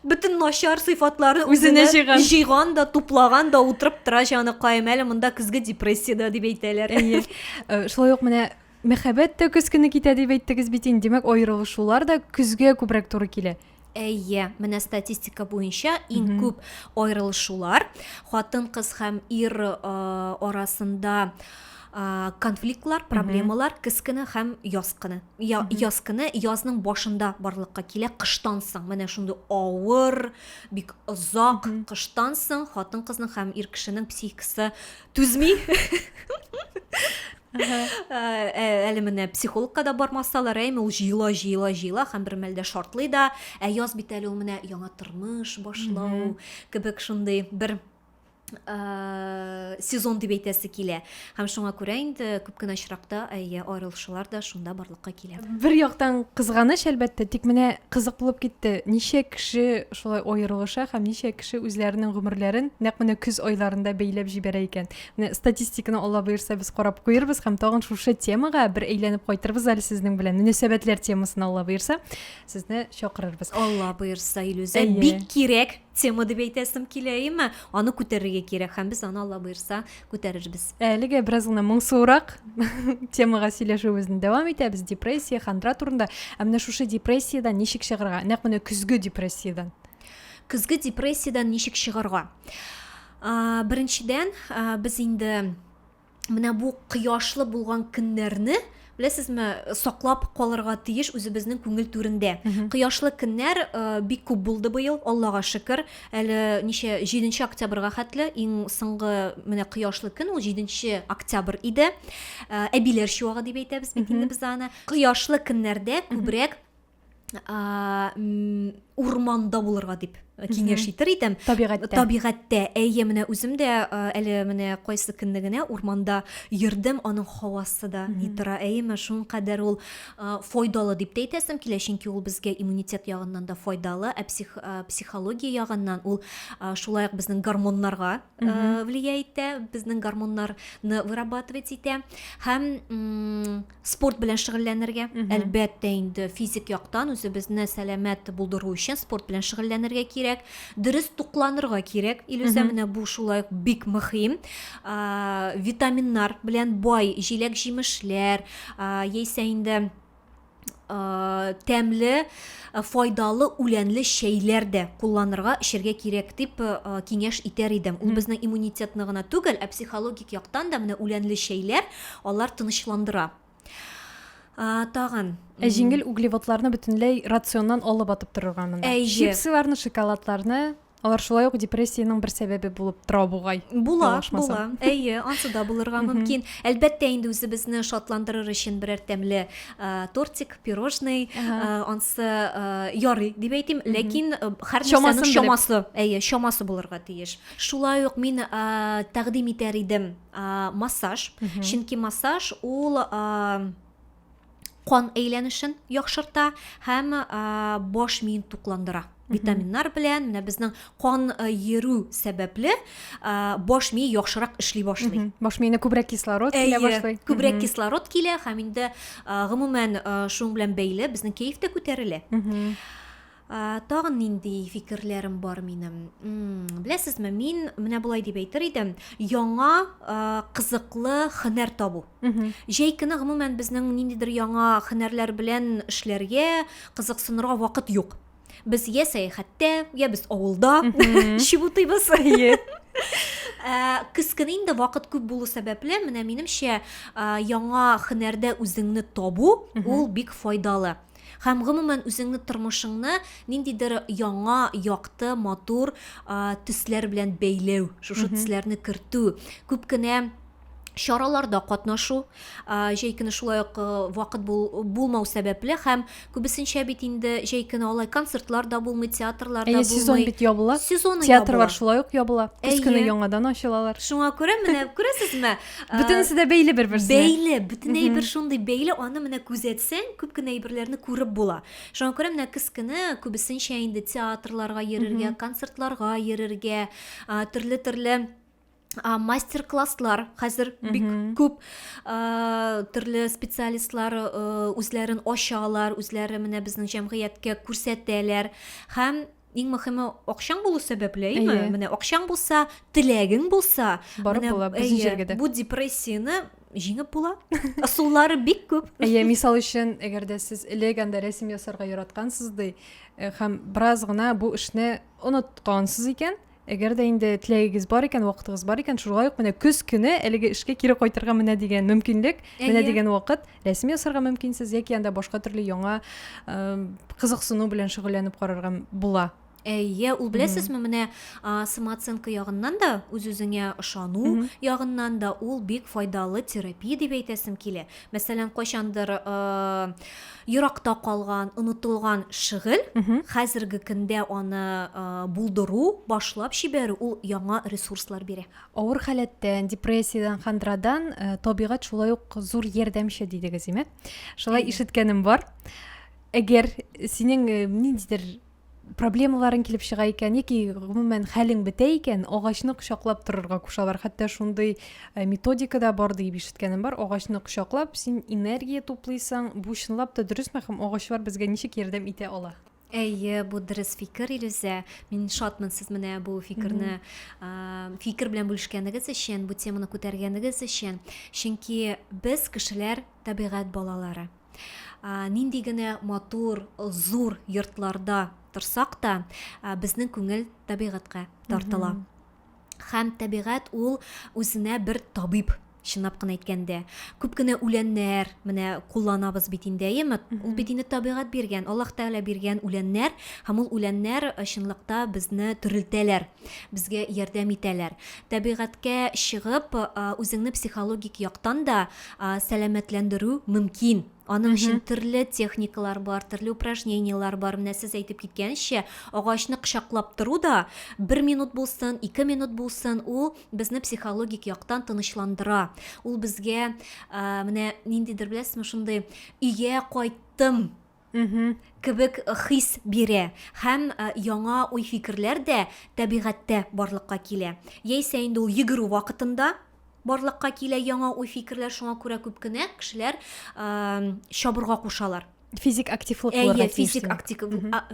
бөтен начар сыйфатларны үзенә җыйган җыйган да туплаган да утырып тора җаныкаем әле монда көзге депрессиядә дип әйтәләр әйе э, шулай ук менә мәхәббәт тә көз көне китә дип әйттегез бит инде демәк аерылышулар да көзгә күбрәк туры килә әйе менә статистика буенча иң күп аерылышулар хатын кыз һәм ир э, арасында э, конфликтлар проблемалар көз көне һәм яз көне я, яз көне язның башында барлыкка килә кыштан соң менә шундый авыр бик озак кыштан соң хатын кызның һәм ир кешенең психикасы түзми әле менә психологка да бармасалар әйме ул җыела җыела җыела һәм бер мәлдә шартлый да ә яз бит әле ул менә яңа тормыш башлау кебек шундый бер Э, сезон дип әйтәсе килә һәм шуңа күрә инде күп кенә очракта әйе аерылышулар да шунда барлыкка килә бер яктан кызганыч әлбәттә тик менә кызык булып китте ничә кеше шулай аерылыша һәм ничә кеше үзләренең гомерләрен нәкъ менә көз айларында бәйләп җибәрә икән менә статистиканы алла боерса без карап куербыз һәм тагын шушы темага бер әйләнеп кайтырбыз әле сезнең белән мөнәсәбәтләр темасына алла боерса сезне чакырырбыз алла боерса илүзә бик кирәк Тема дип әйтәсем килә, әйеме? Аны күтәрергә кирәк һәм без аны Алла боерса күтәрербез. Әлегә бераз гына моңсуырак темага сөйләшүебезне дәвам итәбез. Депрессия, хандра турында. Ә менә шушы депрессиядән ничек чыгарга? Нәкъ менә көзге депрессиядән. Көзге депрессиядән ничек чыгарга? Беренчедән, без инде менә бу кояшлы булган көннәрне беләсезме саклап калырга тиеш үзебезнең күңел түрендә кояшлы көннәр э, бик күп булды быел аллага шөкер әле ничә җиденче октябрьга хәтле иң соңгы менә кояшлы көн ул җиденче октябрь иде э, әбиләр чуагы дип әйтәбез бит инде без аны кояшлы көннәрдә күбрәк ә, урманда булырга дип киңәш итер идем табигатьтә табигатьтә әйе менә үзем дә әле менә кайсы көнне генә урманда йөрдем аның һавасы да ни тора әйеме шулкадәр ул файдалы дип тә әйтәсем килә чөнки ул безгә иммунитет ягыннан да файдалы ә псих, психология ягыннан ул шулай ук безнең гормоннарга влия итә безнең гормоннарны вырабатывать итә һәм Спорт белән шөгыльләнергә, әлбәттә инде физик яктан үзебезне сәламәт булдыру өчен спорт белән шөгыльләнергә кирәк. Дөрес тукланырга кирәк. Илүзә менә бу шулай ук бик мөһим. Витаминнар белән бай җиләк-җимешләр, яисә инде тәмле файдалы үләнле чәйләр дә кулланырга эчәргә кирәк дип киңәш итәр идем ул безнең иммунитетны гына түгел ә психологик яктан да менә үләнле чәйләр Алар тынычландыра. А, тагын. Ә җиңел углеводларны бөтенләй рационнан алып атып торырга монда. Әйе. Чипсыларны, шоколадларны, алар шулай ук депрессиянең бер сәбәбе булып тора бугай. Була, була. Әйе, ансы да булырга мөмкин. Әлбәттә, инде үзебезне шатландырыр өчен берәр тәмле тортик, пирожный, ансы ярый дип әйтим, ләкин һәр нәрсәнең чамасы, әйе, чамасы булырга тиеш. Шулай ук мин тәкъдим итәр идем ә, массаж чөнки массаж ул ә, кан әйләнешен яхшырта һәм ә, баш миен тукландыра витаминнар белән менә безнең кан э, йөрү сәбәпле э, баш мие яхшырак эшли башлый баш миенә күбрәк кислород килә башлый күбрәк кислород килә һәм инде э, гомумән шуның белән бәйле безнең кәеф тә күтәрелә Тагын нинди фикерләрем бар минем? Беләсезме, мин менә болай дип әйтер идем, яңа кызыклы хөнәр табу. Җәй көне гомумән безнең ниндидер яңа хөнәрләр белән эшләргә кызыксынырга вакыт юк. Без я сәяхәттә, я без авылда чебутыйбыз. Көз көне инде вакыт күп булу сәбәпле, менә минемчә, яңа хөнәрдә үзеңне табу, ул бик файдалы. Һәм гомумән үзеңне тормышыңны ниндидер яңа, якты, матур төсләр белән бәйләү, шушы төсләрне кертү, күп кенә чараларда катнашу җәй көне шулай ук вакыт булмау сәбәпле һәм күбесенчә бит инде җәй көне алай концертлар да булмый театрлар да булмый сезон бит ябыла сезон театрлар шулай ук ябыла көз көне яңадан ачылалар шуңа күрә менә күрәсезме Бөтенесе дә бәйле бер-берсенә. Бәйле, бөтен әйбер шундый бәйле, аны менә күзәтсәң, күп кенә әйберләрне күреп була. Шуңа күрә менә кескене күбесенчә инде театрларга йөрергә, концертларга йөрергә, төрле-төрле мастер класслар хәзер бик күп төрле специалистлар үзләрен ачалар үзләре менә безнең җәмгыятькә күрсәтәләр һәм Иң мөхиме акчаң булу сәбәпле, әйеме? Әйе. Менә акчаң булса, теләгең булса, Барып менә, була, безнең әйе, җиргә дә. бу депрессияне җиңеп була. Ысуллары бик күп. Әйе, мисал өчен, әгәр дә сез элек анда рәсем ясарга яраткансыз ди, э, һәм бераз гына бу эшне оныткансыз икән, Әгәр дә инде теләгегез бар икән, вакытыгыз бар икән, шулай ук менә көз көне әлеге эшкә кире кайтырга менә дигән мөмкинлек, менә дигән вакыт рәсем ясарга мөмкинсез яки анда башка төрле яңа кызыксыну белән шөгыльләнеп карарга була. Әйе, ул беләсезме, менә самооценка ягыннан да, үз-үзеңә ышану ягыннан да ул бик файдалы терапия дип әйтәсем килә. Мәсәлән, кайчандыр еракта калган, онытылган шөгыль, хәзерге көндә аны булдыру, башлап җибәрү ул яңа ресурслар бирә. Авыр халәттән, депрессиядән, хандрадан табигать шулай ук зур ярдәмче дидегез, име? Шулай ишеткәнем бар. Әгәр синең ниндидер проблемаларың килеп чыга икән яки гомумән хәлең бетә икән агачны кочаклап торырга кушалар хәтта шундый э, методика да бар диеп ишеткәнем бар агачны кочаклап син энергия туплыйсың бу чынлап та дөресме һәм агачлар безгә ничек ярдәм итә ала әйе бу дөрес фикер илүзә мин шатмын сез менә бу фикерне фикер белән бүлешкәнегез өчен бу теманы күтәргәнегез өчен чөнки без кешеләр табигать балалары Нинди генә матур, зур йортларда торсак та, безнең күңел табигатькә тартыла. Хәм табигат ул үзенә бер табиб чынлап кына әйткәндә күп кенә үләннәр менә кулланабыз бит инде әйеме ул бит инде табигать биргән аллаһ тәгалә биргән үләннәр һәм ул үләннәр э, чынлыкта безне терелтәләр Безгә ярдәм итәләр. Табигатькә чыгып, үзеңне психологик яктан да сәламәтләндерү мөмкин. Аның өчен төрле техникалар бар, төрле упражненияләр бар. Менә сез әйтеп киткәнчә, агачны кочаклап тору да бер минут булсын, ике минут булсын, ул безне психологик яктан тынычландыра. Ул безгә менә ниндидер, беләсезме, шундый өйгә кайттым Мгм. Кебек хис бирә һәм яңа уй-фикерләр дә табигатьтә барлыкка килә. Яисә инде ул йөгерү вакытында барлыкка килә яңа уй-фикерләр, шуңа күрә күп кенә кешеләр чабырга кушалар. Физик активлык булырга тиеш. Физик актив,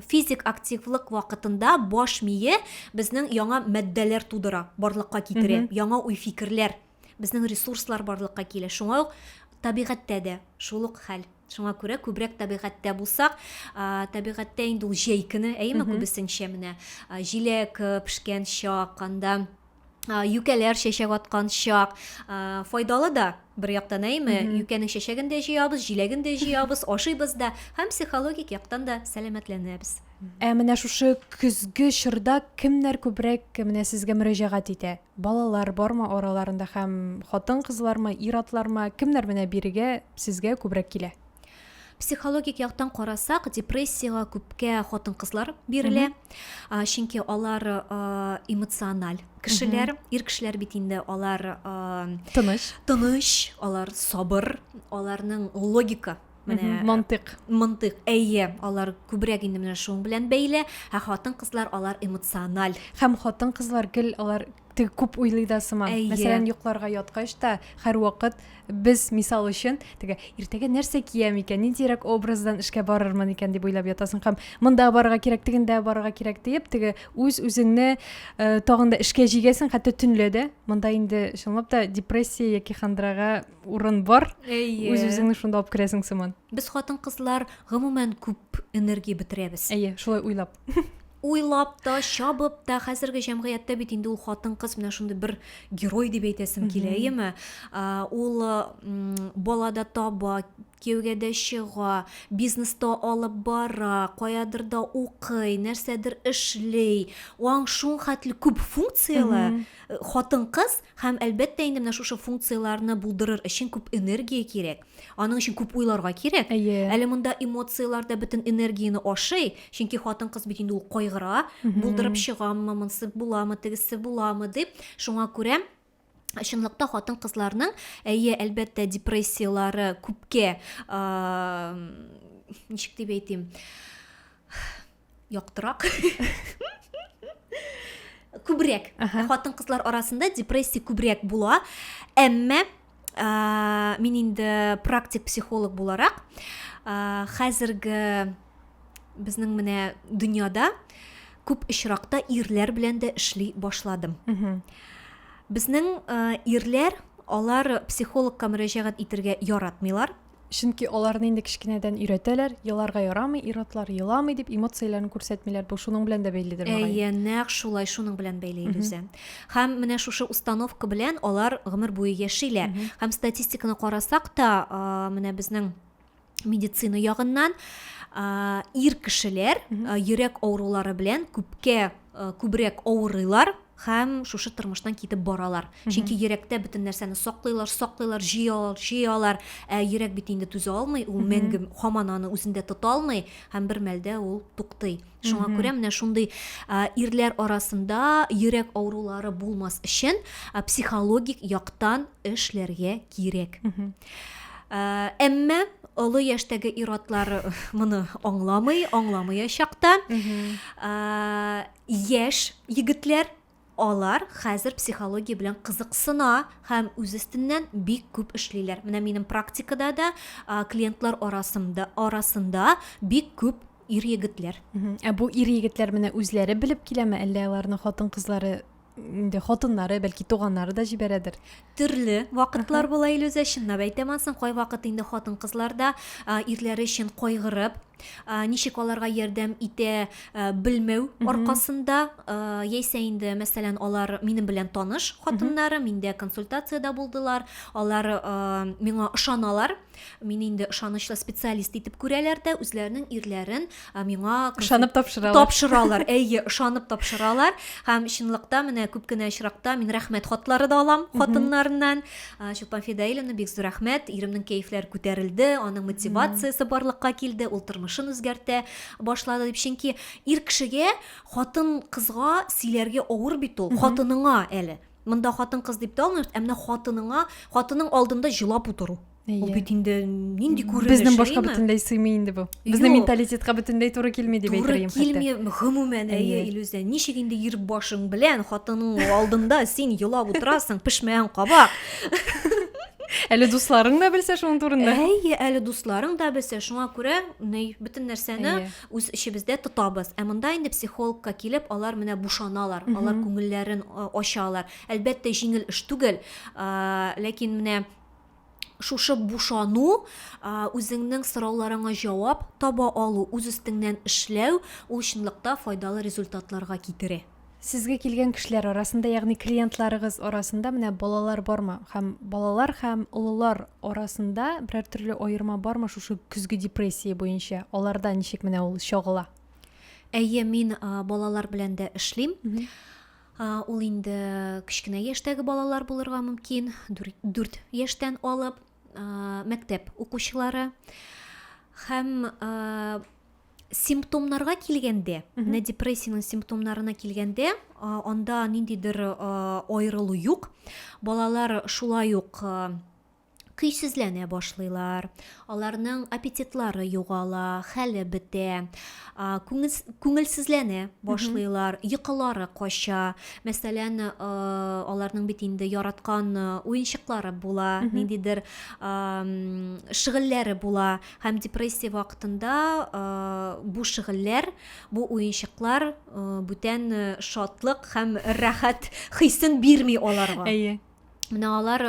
физик активлык вакытында баш мие безнең яңа матдәләр тудыра, барлыкка китерә, яңа уй-фикерләр Безнең ресурслар барлыкка килә. Шуңа ук табигатьтә дә шул ук хәл. Шуңа күрә күбрәк табигатьтә булсак, табигатьтә инде ул җәй көне, әйеме, күбесенчә менә җиләк пешкән чак, анда юкәләр чәчәк аткан чак файдалы да бер яктан әйме юкәнең чәчәген дә җыябыз җиләген дә җыябыз ашыйбыз да һәм психологик яктан да сәламәтләнәбез ә менә шушы көзге чорда кемнәр күбрәк менә сезгә мөрәҗәгать итә Балалар бармы араларында һәм хатын-кызлармы, ир-атлармы, кемнәр менә бирегә, сезгә күбрәк килә? Психологик яктан карасак, депрессиягә күпкә хатын-кызлар бирелә. А, Чөнки алар а, эмоциональ кешеләр, ир кешеләр бит инде алар а, Тыныч. тыныч, алар сабыр, аларның логика менә мантык мантык әйе алар күбрәк инде менә шуның белән бәйле ә хатын кызлар алар эмоциональ һәм хатын кызлар гел алар теге күп уйлый да сыман әйе. мәсәлән йокларга яткач та һәрвакыт без мисал өчен теге иртәгә нәрсә киям икән ниндирәк образдан эшкә барырмын икән дип уйлап ятасың һәм монда барырга кирәк тегендә барырга кирәк диеп теге үз үзеңне ә, тагын да эшкә җигәсең хәтта төнлә дә монда инде чынлап та депрессия яки хандрага урын бар әйе үз үзеңне шунда алып керәсең сыман без хатын кызлар гомумән күп энергия бетерәбез әйе шулай уйлап уйлап та чабып та хәзерге җәмгыятьтә бит инде ул хатын кыз менә шундый бер герой дип әйтәсем килә әйеме ул балада таба кияүгә дә чыга бизнеста алып бара каядыр да укый нәрсәдер эшли аң шуң хәтле күп функцияле хатын кыз Һәм, әлбәттә, инде менә шушы функцияләрне булдырыр өчен күп энергия кирәк. Аның өчен күп уйларга кирәк. Әйе. Әле монда эмоцияләр дә бөтен энергияне ашый, чөнки хатын-кыз бит инде ул кайгыра, булдырып чыгаммы, монысы буламы, тегесе буламы дип. Шуңа күрә чынлыкта хатын-кызларның, әйе, әлбәттә, депрессияләре күпкә, ничек дип әйтим, яктырак күбрәк хатын кызлар арасында депрессия күбрәк була әмма ә, мин инде практик психолог буларак ә, хәзерге безнең менә дөньяда күп очракта ирләр белән дә эшли башладым безнең ә, ирләр алар психологка мөрәҗәгать итергә яратмыйлар Чөнки аларны инде кечкенәдән өйрәтәләр, еларга ярамый, ир-атлар еламый дип эмоцияләрен күрсәтмиләр. Бу шуның белән дә бәйледер мөгаен. Әйе, нәкъ шулай, шуның белән бәйле, Илүзә. Һәм менә шушы установка белән алар гомер буе яшиләр. Һәм статистиканы карасак та, менә безнең медицина ягыннан ир кешеләр йөрәк авырулары белән күпкә күбрәк авырыйлар, һәм шушы тормыштан китеп баралар. Чөнки йөрәктә бөтен нәрсәне саклыйлар, саклыйлар, җыялар, җыялар. Ә йөрәк бит инде түзә алмый, ул мәңге хаман аны үзендә тота алмый һәм бер мәлдә ул туктый. Шуңа күрә менә шундый ирләр арасында йөрәк авырулары булмас өчен психологик яктан эшләргә кирәк. Әмма олы яшьтәге ир-атлар моны аңламый, аңламаячак та. Яшь егетләр, алар хәзер психология белән кызыксына һәм үз өстеннән бик күп эшлиләр. Менә минем практикада да клиентлар арасында, арасында бик күп ир егетләр. Ә бу ир егетләр менә үзләре белеп киләме, әллә аларны хатын-кызлары инде хатыннары бәлки туганнары да җибәрәдер төрле вакытлар була илүзә чынлап әйтәм ансын кайвакыт инде хатын кызлар да ирләре өчен кайгырып ничек аларга ярдәм итә белмәү аркасында яисә инде мәсәлән алар минем белән таныш хатыннарым инде консультациядә булдылар алар миңа ышаналар Мин инде ышанычлы специалист итеп күрәләр дә, үзләренең ирләрен миңа ышанып тапшыралар. Тапшыралар, әйе, ышанып тапшыралар. Һәм чынлыкта менә күп кенә очракта мин рәхмәт хатлары да алам хатыннарыннан. Чулпан Фидаиловна, бик зур рәхмәт, иремнең кәефләре күтәрелде, аның мотивациясе барлыкка килде, ул тормышын үзгәртә башлады дип. Чөнки ир кешегә хатын кызга сөйләргә авыр бит ул, хатыныңа әле. Монда хатын-кыз дип тә алмыйбыз, ә менә хатыныңа, хатының алдында җылап утыру. Ул бит инде нинди күренеш? Безнең башка бөтенләй сыймый инде бу. Безнең менталитетка бөтенләй туры килми дип әйтергә хәтта. Туры килми, гомумән, әйе, Илүзә, ничек инде ир башың белән хатының алдында син елап утырасың, пешмәгән кабак. Әле дусларың да белсә шуның турында. Әйе, әле дусларың да белсә, шуңа күрә ни бөтен нәрсәне үз эчебездә тотабыз. Ә монда инде психологка килеп, алар менә бушаналар, алар күңелләрен ачалар. Әлбәттә, җиңел эш түгел, ләкин менә шушы бушану үзеңнең сорауларыңа җавап таба алу үз өстеңнән эшләү ул чынлыкта файдалы результатларга китерә Сезгә килгән кешеләр арасында, ягъни клиентларыгыз арасында менә балалар бармы? Һәм балалар һәм олылар арасында берәр төрле аерма бармы шушы көзге депрессия буенча? Аларда ничек менә ул чагыла? Әйе, мин балалар белән дә эшлим. Ул инде кечкенә яшьтәге балалар булырга мөмкин, 4 яшьтән алып мәктәп укучылары һәм симптомнарга килгәндә менә депрессиянең симптомнарына килгәндә анда ниндидер аерылу юк балалар шулай ук көйсезләнә башлыйлар аларның аппетитлары югала хәле бетә күңелсезләнә башлыйлар йокылары кача мәсәлән аларның бит инде яраткан уенчыклары була ниндидер шөгыльләре була һәм депрессия вакытында бу шөгыльләр, бу уенчыклар бүтән шатлык һәм рәхәт хисен бирми аларга. Әйе. Менә алар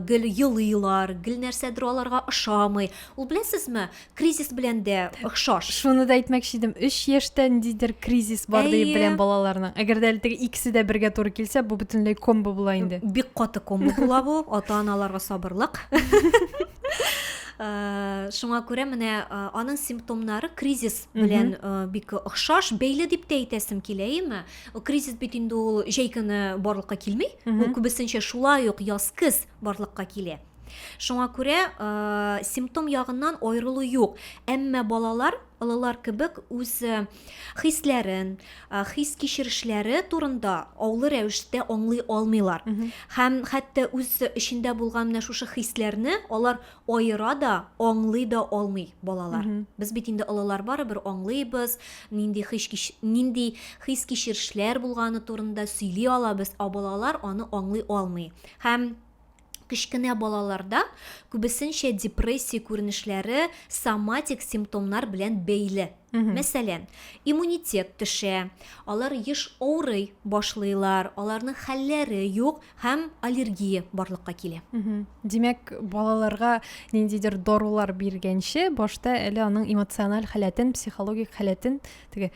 гел елыйлар, гел нәрсәдер аларга ошамый. Ул беләсезме, кризис белән дә охшаш. Шуны да әйтмәкче идем, 3 яшьтә ниндидер кризис бар диеп беләм балаларның. Әгәр дә әле икесе дә бергә туры килсә, бу бөтенләй комбо була инде. Бик каты комбо була бу, ата-аналарга сабырлык. Э, шуңа күрә менә э, аның симптомнары кризис белән э, бик охшаш бәйле дип тә әйтәсем килә әйеме кризис бит инде ул җәй көне барлыкка килми ул күбесенчә шулай ук яз көз барлыкка килә шуңа күрә ә, симптом ягыннан аерылу юк әмма балалар олылар кебек үз хисләрен, хис-кичерешләре турында аулы рәвештә аңлый алмыйлар. Һәм хәтта үз эчендә булган менә шушы хисләрне алар аера да, аңлый да алмый балалар. Без бит инде олылар барыбер аңлыйбыз, нинди хис нинди хис-кичерешләр булганы турында сөйли алабыз, ә балалар аны аңлый алмый. Һәм Кечкенә балаларда күбесенчә депрессия күренешләре соматик симптомнар белән бәйле. Мәсәлән, иммунитет төшә, алар еш авырый башлыйлар, аларның хәлләре юк һәм аллергия барлыкка килә. Димәк, балаларга ниндидер дарулар биргәнче, башта әле аның эмоциональ халәтен, психологик халәтен теге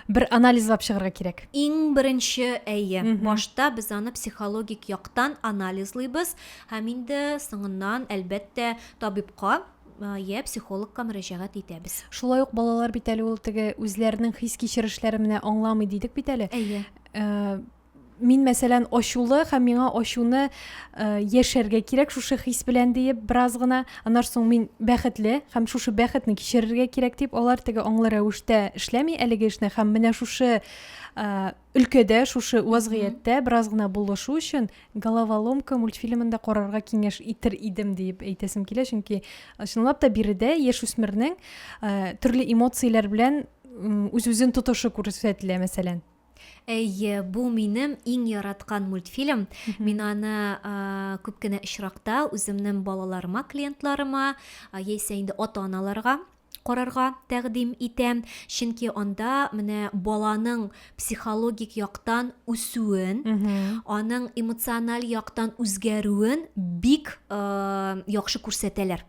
бер анализлап чыгарга кирәк иң беренче әйе башта без аны психологик яктан анализлыйбыз һәм инде соңыннан әлбәттә табибка я психологка мөрәҗәгать итәбез шулай ук балалар бит әле ул теге үзләренең хис кичерешләре менә аңламый дидек бит әле әйе э, мин мәсәлән ачулы һәм миңа ачуны э, яшәргә кирәк шушы хис белән диеп бераз гына аннан соң мин бәхетле һәм шушы бәхетне кичерергә кирәк дип алар теге аңлы рәвештә эшләми әлеге эшне һәм менә шушы э, өлкәдә шушы вазгыятьтә бераз гына булышу өчен головоломка мультфильмын да карарга киңәш итер идем диеп әйтәсем килә чөнки э, чынлап та биредә яшүсмернең э, төрле эмоцияләр белән үз үзен тотышы күрсәтелә мәсәлән Әйе, бу минем иң яраткан мультфильм. Мин аны күп кенә очракта үземнең балаларыма, клиентларыма, а, яисә инде ата-аналарга карарга тәкъдим итәм. Чөнки анда менә баланың психологик яктан үсүен, аның эмоциональ яктан үзгәрүен бик яхшы күрсәтәләр.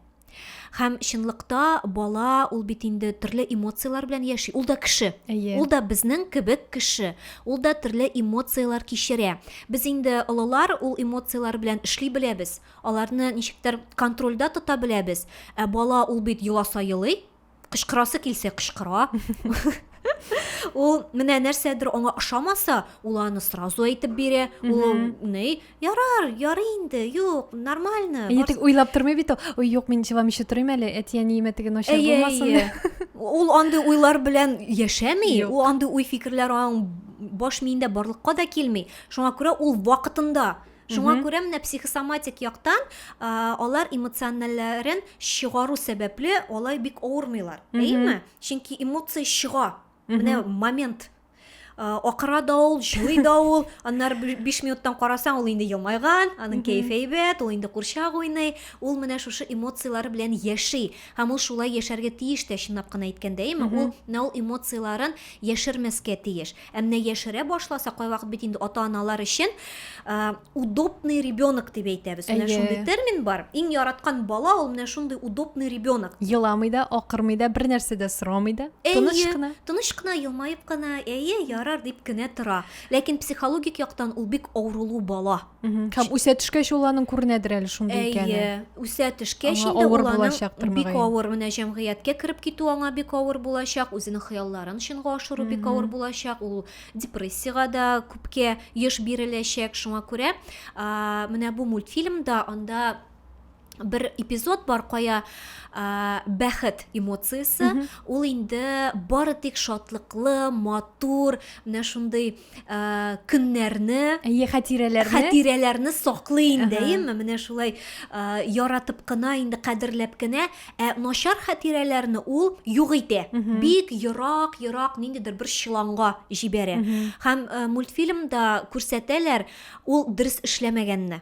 Һәм чынлыкта бала ул бит инде төрле эмоцияләр белән яши. Ул да кеше. Әйе. Ул да безнең кебек кеше. Ул да төрле эмоцияләр кичерә. Без инде олылар ул эмоцияләр белән эшли беләбез. Аларны ничектер контрольдә тота беләбез. Ә бала ул бит еласа елый, кычкырасы килсә кычкыра ул менә нәрсәдер аңа ошамаса ул аны сразу әйтеп бирә ул ни ярар ярый инде юк нормально әйе тик уйлап тормый бит ул юк мин җыламыйча торыйм әле әти әниемә теге начар булмасын ул андый уйлар белән яшәми ул андый уй фикерләр аның баш миендә барлыкка да килми шуңа күрә ул вакытында Шуңа күрә менә психосоматик яктан а, алар эмоциональләрен чыгару сәбәпле алай бик авырмыйлар. Әйеме? Чөнки эмоция чыга. Менә момент акыра да ул җуй да ул аннары биш минуттан карасаң ул инде елмайган аның кәефе әйбәт ул инде курчак уйный ул менә шушы эмоцияләре белән яши һәм ул шулай яшәргә тиеш тә чынлап кына әйткәндә әйеме ул менә ул эмоцияләрен яшермәскә тиеш Ә менә яшерә башласа, кайвакыт бит инде ата-аналар өчен удобный ребенок дип әйтәбез. Менә шундый термин бар. Иң яраткан бала ул менә шундый удобный ребенок. Еламый да, акырмый да, бер нәрсә дә сорамый да, тыныч кына. Тыныч кына, елмаеп кына, әйе, ярар дип кенә тора. Ләкин психологик яктан ул бик авырулы бала. Һәм үсә төшкәч ул аның күренәдер әле шундый икәне. Әйе, үсә төшкәч инде ул аның бик авыр менә җәмгыятькә кереп китү аңа бик авыр булачак, үзенең хыялларын чынга ашыру бик авыр булачак, ул депрессиягә дә күпкә еш биреләчәк. Шуңа күрә менә бу мультфильмда анда бер эпизод бар кая ә, бәхет эмоциясе mm -hmm. ул инде бары тик шатлыклы матур менә шундый ә, көннәрне әйе хатирәләрне хатирәләрне саклый инде әйеме менә шулай ә, яратып кына инде кадерләп кенә ә начар хатирәләрне ул юк итә mm -hmm. бик ерак ерак ниндидер бер чыланга җибәрә mm -hmm. һәм ә, мультфильмда күрсәтәләр ул дөрес эшләмәгәнне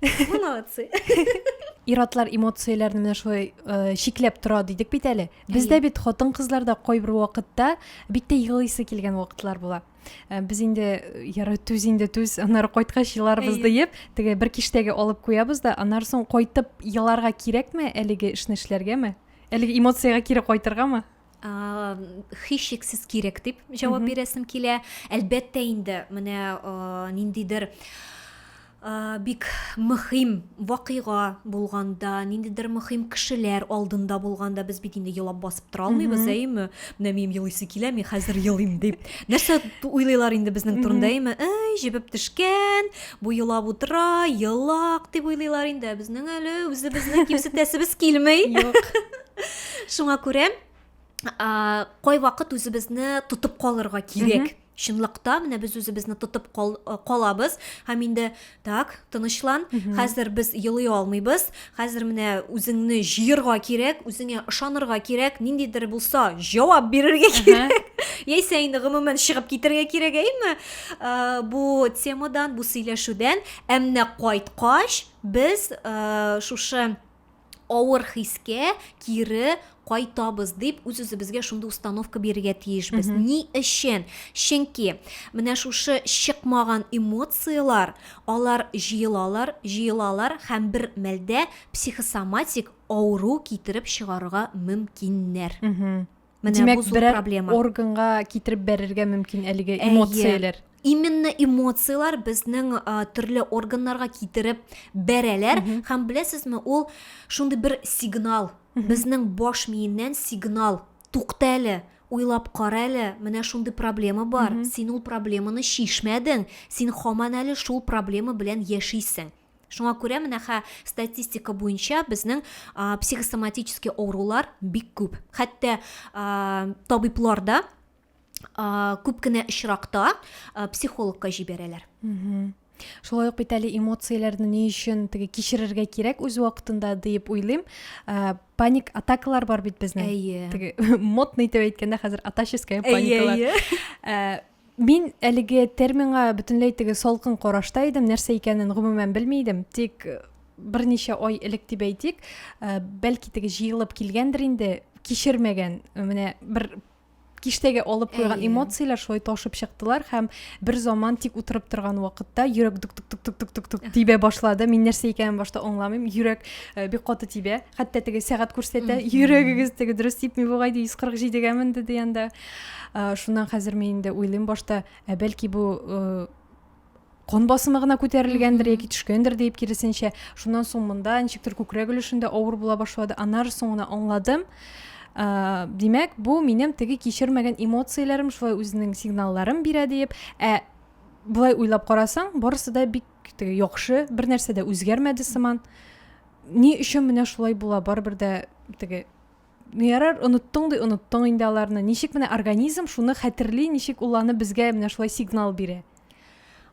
Вы молодцы. Иратлар эмоцияләрне менә шулай э, чикләп тора дидек бит әле. Бездә бит хатын-кызларда кайбер вакытта бик тә елыйсы килгән вакытлар була. Э, без инде э, яры түз инде түз, аннары кайткач еларбыз диеп, теге бер киштәгә алып куябыз да, аннары соң кайтып еларга кирәкме әлеге эшне эшләргәме? Әлеге эмоциягә кире кайтыргамы? һичшиксез кирәк дип җавап бирәсем килә әлбәттә инде менә ниндидер бик мөһим вакыйга булганда ниндидер мөһим кешеләр алдында булганда без бит инде елап басып тора алмыйбыз әйеме менә минем елыйсы килә мин хәзер елыйм дип нәрсә уйлыйлар инде безнең турында әйеме әй җебеп төшкән бу елап утыра елак дип уйлыйлар инде ә безнең әле үзебезне кимсетәсебез килми юк шуңа күрә кайвакыт үзебезне тотып калырга кирәк чынлыкта менә без үзебезне тотып кал, калабыз һәм инде так тынычлан хәзер без елый алмыйбыз хәзер менә үзеңне җыерга кирәк үзеңә ышанырга кирәк ниндидер булса җавап бирергә кирәк яисә инде гомумән чыгып китәргә кирәк әйме ә, бу темадан бу сөйләшүдән ә менә кайткач без ә, шушы авыр хискә кире кайтабыз дип үз үзебезгә шундый установка бирергә тиешбез mm -hmm. ни өчен чөнки менә шушы чыкмаган эмоциялар алар җыелалар җыелалар һәм бер мәлдә психосоматик авыру китереп чыгарырга мөмкиннәр mm -hmm. Менә Димәк, бу зур проблема. органга китереп бәрергә мөмкин әлеге эмоцияләр. Әйе. Именно эмоцияләр безнең ә, төрле органнарга китереп бәрәләр mm -hmm. һәм беләсезме, ул шундый бер сигнал, mm -hmm. безнең баш миеннән сигнал, тукта әле, уйлап кара әле, менә шундый проблема бар. Mm -hmm. Син ул проблеманы чишмәдең, син хаман әле шул проблема белән яшисең. Шуңа күрә менә хә статистика буенча безнең психосоматический авырулар бик күп. Хәтта табиблар да күп кенә очракта психологка җибәрәләр. Шулай ук бит әле эмоцияләрне ни өчен теге кичерергә кирәк үз вакытында дип уйлыйм. Паник атакалар бар бит безнең. Теге модный итеп әйткәндә хәзер атаческая паникалар. Мин әлеге терминга бөтенләй теге салкын карашта идем, нәрсә икәнен гомумән белми идем. Тик э, берничә ай элек дип әйтик, э, бәлки теге җыелып килгәндер инде, кичермәгән э, менә бер киштәгә алып куйган эмоцияләр шулай ташып чыктылар һәм бер заман тик утырып торган вакытта йөрәк тук тук тук тук тук тук тук тибә башлады. Мин нәрсә икәнен башта аңламыйм. Йөрәк бик каты тибә. хәтта теге сәгать күрсәтә йөрәгегез теге дөрес типми бугай ди 147-гә менде дигәндә шуннан хәзер мин инде уйлыйм башта ә бәлки бу кан басымы гына күтәрелгәндер яки төшкәндер диеп киресенчә шуннан соң монда ничектер күкрәк өлешендә авыр була башлады аннары соң гына аңладым ә, димәк бу минем теге кичермәгән эмоцияләрем шулай үзенең сигналларын бирә диеп ә былай уйлап карасаң барысы да бик теге яхшы бер нәрсә дә үзгәрмәде сыман ни өчен менә шулай була барыбер дә теге ну ярар оныттың ди оныттың инде аларны ничек менә организм шуны хәтерли ничек ул аны безгә менә шулай сигнал бирә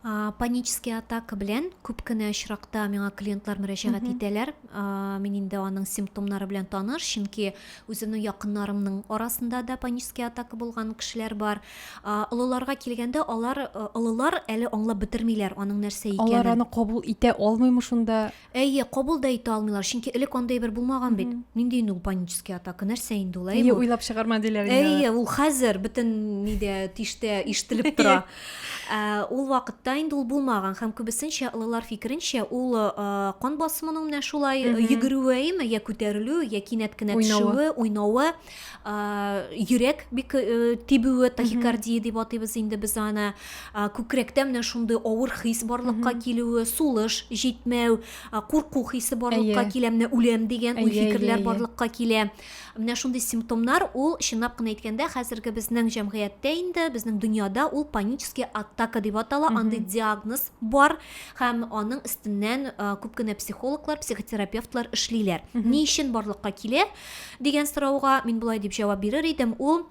а, панический атака белән күп кенә очракта миңа клиентлар мөрәҗәгать итәләр а, мин инде аның симптомнары белән таныш чөнки үземнең якыннарымның арасында да панический атака булган кешеләр бар а, олыларга килгәндә алар олылар әле аңлап бетермиләр аның нәрсә икәнен алар аны кабул итә алмыймы шунда Әйе, кабул да итә алмыйлар, чөнки элек андый әйбер булмаган бит. Нинди инде ул панический атака, нәрсә инде ул, әйеме? Әйе, уйлап чыгарма диләр инде. Әйе, ул хәзер бөтен нидә, тиштә ишетелеп тора. Ә, ул вакытта инде ул булмаган һәм күбесенчә олылар фикеренчә, ул а, кан басымының менә шулай йөгерүе, әйеме, я күтәрелү, я кинәт кенә Уйнавы. төшүе, уйнавы. йөрәк бик э, тибүе тахикардия дип атыйбыз инде без аны күкрәктә менә шундый авыр хис барлыкка килүе сулыш җитмәү курку хисе барлыкка килә менә үләм дигән уй фикерләр барлыкка килә менә шундый симптомнар ул чынлап кына әйткәндә хәзерге безнең җәмгыятьтә инде безнең дөньяда ул панический атака дип атала андый диагноз бар һәм аның өстеннән күп кенә психологлар психотерапевтлар эшлиләр ни өчен барлыкка килә дигән сорауга мин болай дип җавап бирер идем ул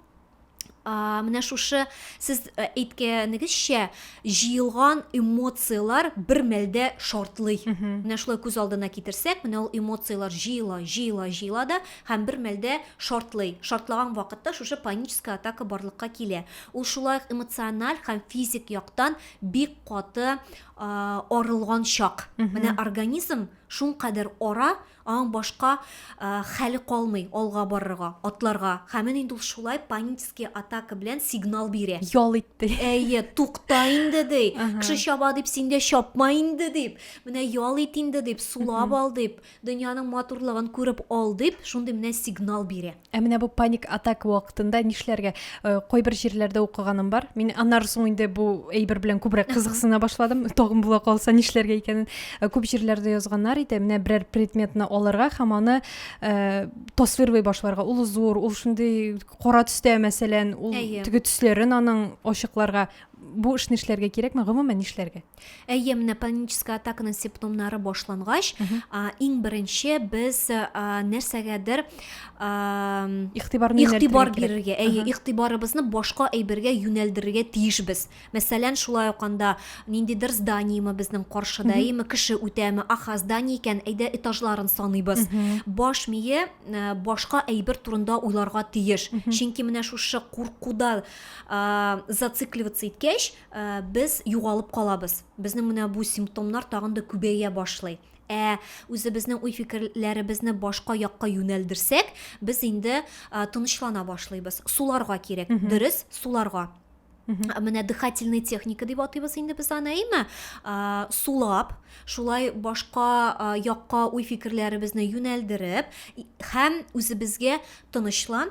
менә шушы сез э, әйткәнегезчә җыелган эмоциялар бер мәлдә шартлый менә шулай күз алдына китерсәк менә ул эмоциялар җыела җыела җыела да һәм бер мәлдә шартлый шартлаган вакытта шушы паническая атака барлыкка килә ул шулай эмоциональ һәм физик яктан бик каты арылган чак. Менә организм шул кадәр ара, аң башка хәле калмый алга барырга, атларга. Һәм менә инде ул шулай панический атака белән сигнал бирә. Ял итте. Әйе, тукта инде ди. Кеше чаба дип син дә чапма инде дип. Менә ял ит инде дип, сулап ал дип, дөньяның матурлыгын күреп ал дип, шундый менә сигнал бирә. Ә менә бу паник атак вакытында нишләргә? Э, кайбер җирләрдә укыганым бар. Мин аннары соң инде бу әйбер белән күбрәк кызыксына башладым. Тагын була калса нишләргә икәнен. Э, күп җирләрдә язганнар иде, менә берәр предметны алырга һәм аны э, тасвирлый башларга. Ул зур, ул шундый кара төстә, мәсәлән, ул теге төсләрен аның ачыкларга. Бу эшне эшләргә кирәкме? Гомумән нишләргә? Әйе, менә паническая атаканың симптомнары башлангач, иң беренче без нәрсәгәдер игътибар бирергә, әйе, игътибарыбызны башка әйбергә юнәлдерергә тиешбез. Мәсәлән, шулай ук анда ниндидер зданиеме безнең каршыда, әйеме, кеше үтәме, аха, здание икән, әйдә этажларын саныйбыз. Баш мие башка әйбер турында уйларга тиеш. Чөнки менә шушы куркуда зацикливаться иткәч, Ә, без югалып калабыз. Безнең менә бу симптомнар тагын да күбәя башлый. Ә үзебезнең уй-фикерләребезне башка якка юнәлдерсәк, без инде ә, тынычлана башлыйбыз. Суларга кирәк. Дөрес, суларга. Ә, Менә дыхательный техника дип атыйбыз инде без аны, әйме? Ә, Сулап, шулай башка ә, якка уй-фикерләребезне юнәлдереп и- һәм үзебезгә тынычлан,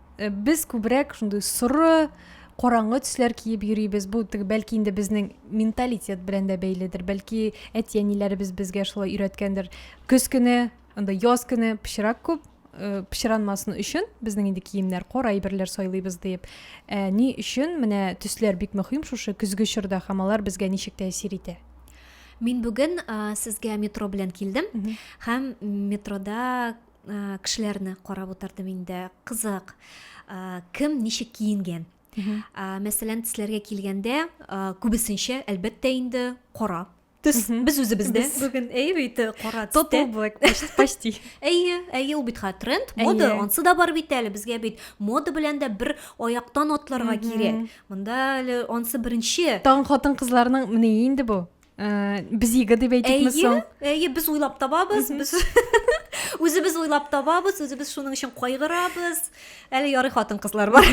Э, без күбрәк шундый соры караңгы төсләр киеп йөрибез бу теге бәлки инде безнең менталитет белән дә бәйледер бәлки әти әниләребез безгә шулай өйрәткәндер көз көне анда яз көне пычрак күп э, пычранмасын өчен безнең инде киемнәр кара әйберләр сайлыйбыз диеп ә, ни өчен менә төсләр бик мөһим шушы көзге чорда һәм алар безгә ничек тәэсир итә мин бүген ә, сезгә метро белән килдем һәм метрода Э, кешеләрне карап утырдым инде кызык э, кем ничек киенгән э, мәсәлән төсләргә килгәндә күбесенчә әлбәттә инде кара төс без үзебездә бүген әйе бит кара тотал блэк почти әйе әйе ул бит хәзер тренд мода ансы да бар бит әле безгә бит мода белән дә бер аяктан атларга кирәк монда әле ансы беренче тагын хатын кызларның менә инде бу ә, без иге дип әйтикме соң әйе без уйлап табабыз без үзебез уйлап табабыз үзебез шуның өчен кайгырабыз әле ярый хатын кызлар бар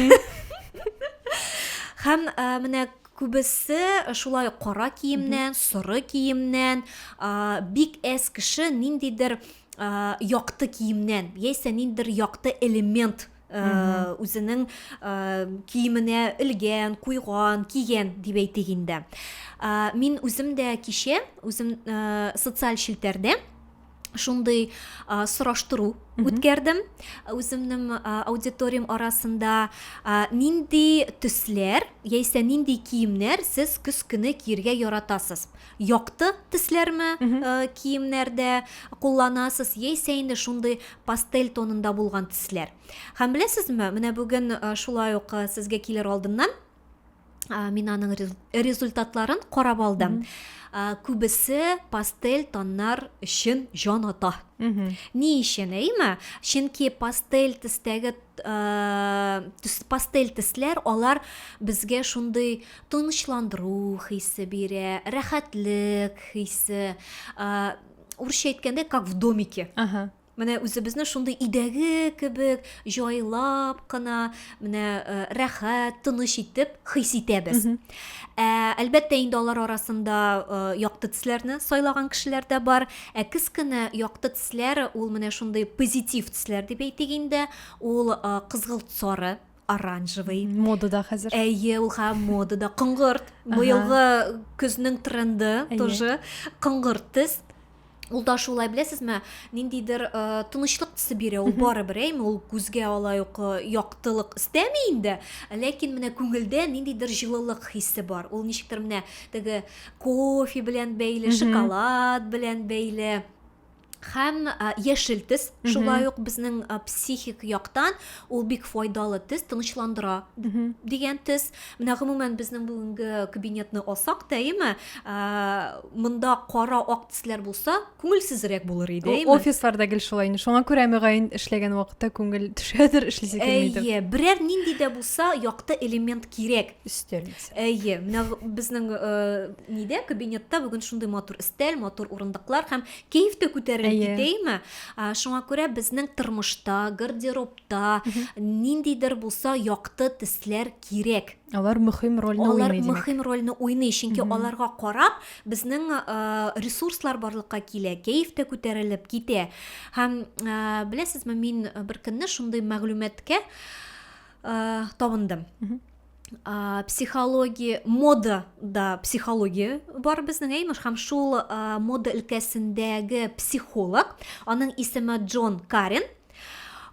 һәм ә, менә күбесе шулай кара киемнән соры киемнән ә, бик әз кеше ниндидер ә, якты киемнән яисә ниндидер якты элемент Э, үзенең э, киеменә элгән куйган киген дип әйтик инде э, мин үзем дә кичә үзем социаль челтәрдә шундый сораштыру үткәрдем үземнең аудиториям арасында нинди төсләр яисә нинди киемнәр сез көз көне киергә яратасыз якты төсләрме киемнәрдә кулланасыз, яисә инде шундый пастель тонында булган төсләр. Һәм беләсезме, менә бүген шулай ук сезгә килер алдыннан мин аның результатларын карап алдым. Күбесе пастель тоннар өчен җан ата. Ни өчен, әйме? Чөнки пастель төстәге пастель төсләр алар безгә шундый тынычландыру хисе бирә, рәхәтлек хисе. Урысча әйткәндә, как в домике. Ага. Менә үзебезне шундый идәге кебек җайлап кына, менә э, рәхәт, тыныч итеп хис итәбез. Ә, әлбәттә инде алар арасында э, якты төсләрне сайлаган кешеләр дә бар. Ә кескенә якты төсләр ул менә шундый позитив төсләр дип әйтик инде. Ул э, кызгылт сары оранжевый. Модада хәзер. Әйе, ул ха модада. Коңгырт. Быелгы көзнең тренды тоже. Коңгырт төс. Ул да шулай, беләсезме, ниндидер э, тынычлык төсе бирә, ул барыбер, әйме, ул күзгә алай ук э, яктылык истәми инде, ләкин менә күңелдә ниндидер җылылык хисе бар. Ул ничектер менә теге кофе белән бәйле, шоколад белән бәйле һәм яшел төс шулай ук безнең психик яктан ул бик файдалы төс тынычландыра дигән төс менә гомумән безнең бүгенге кабинетны алсак та әйеме монда кара ак төсләр булса күңелсезрәк булыр иде офисларда гел шулай инде шуңа күрә мөгаен эшләгән вакытта күңел төшәдер эшлисе килмидер әйе берәр нинди дә булса якты элемент кирәк өстәл әйе менә безнең нидә кабинетта бүген шундый матур өстәл матур урындыклар һәм кәеф тә күтәрелеп Әйе. китәме А, шуңа күрә безнең тормышта гардеробта ниндидер булса якты төсләр кирәк алар мөһим рольне алар уйный димәк мөһим рольне уйный чөнки аларга карап безнең э, ресурслар барлыкка килә кәеф тә күтәрелеп китә һәм э, беләсезме мин бер көнне шундый мәгълүматкә э, табындым ә, психология мода да психология бар безнең ә имеш һәм шул ә, мода өлкәсендәге психолог аның исеме джон карен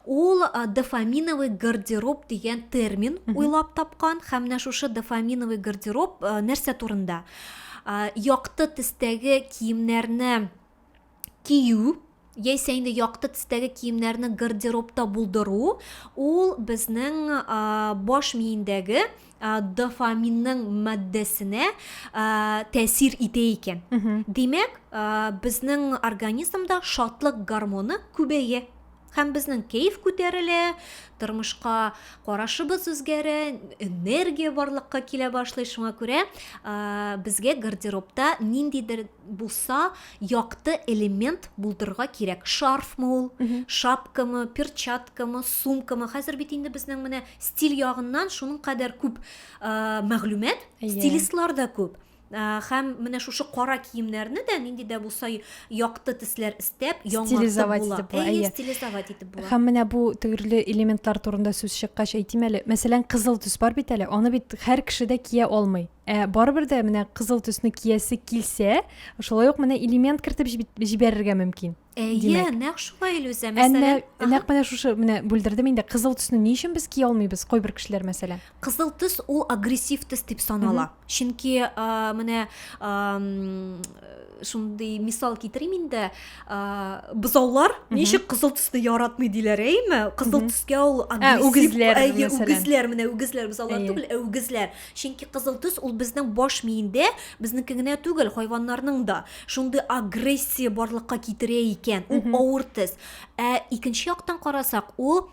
ул дофаминовый гардероб дигән термин уйлап тапкан һәм менә шушы дофаминовый гардероб нәрсә турында якты төстәге киемнәрне кию, яисә инде якты төстәге киемнәрне гардеробта булдыру, ул безнең баш миендәге дофаминның матдәсенә тәэсир итә икән. Димәк, безнең организмда шатлык гормоны күбәя. Һәм безнең кәеф күтәрелә, тормышка карашыбыз үзгәрә, энергия барлыкка килә башлый. Шуңа күрә безгә гардеробта ниндидер булса якты элемент булдырырга кирәк. Шарфмы ул, шапкамы, перчаткамы, сумкамы. Хәзер бит инде безнең менә стиль ягыннан шуның кадәр күп мәгълүмат, стилистлар да күп. Ә, Һәм менә шушы кара киемнәрне дә нинди дә булса якты төсләр истәп, яңартып Стилизовать була. итеп була, Әйе, әйе. стилизовать итеп була. Һәм менә бу төрле элементлар турында сүз чыккач әйтим әле. Мәсәлән, кызыл төс бар бит әле. Аны бит һәр кеше дә кия алмый. Ә барыбер дә менә кызыл төсне киясе килсә, шулай ук менә элемент кертеп җиб- җибәрергә мөмкин. Әйе, нәкъ шулай Илүзә, мәсәлән. Әмма нәкъ менә шушы менә бүлдердем инде, кызыл төсне ни өчен без кия алмыйбыз, кайбер кешеләр мәсәлән? Кызыл төс ул агрессив төс дип санала. Чөнки менә шундый мисал китерим инде, бозаулар ничек кызыл төсне яратмый диләр, әйеме? Кызыл төскә ул агрессив, үгезләр, әйе, үгезләр, менә үгезләр, бозаулар түгел, ә үгезләр. Чөнки кызыл төс ул безнең баш миендә, безнеке генә түгел, хайваннарның да шундый агрессия барлыкка китерә икән, ул авыр төс. Ә икенче яктан карасак, ул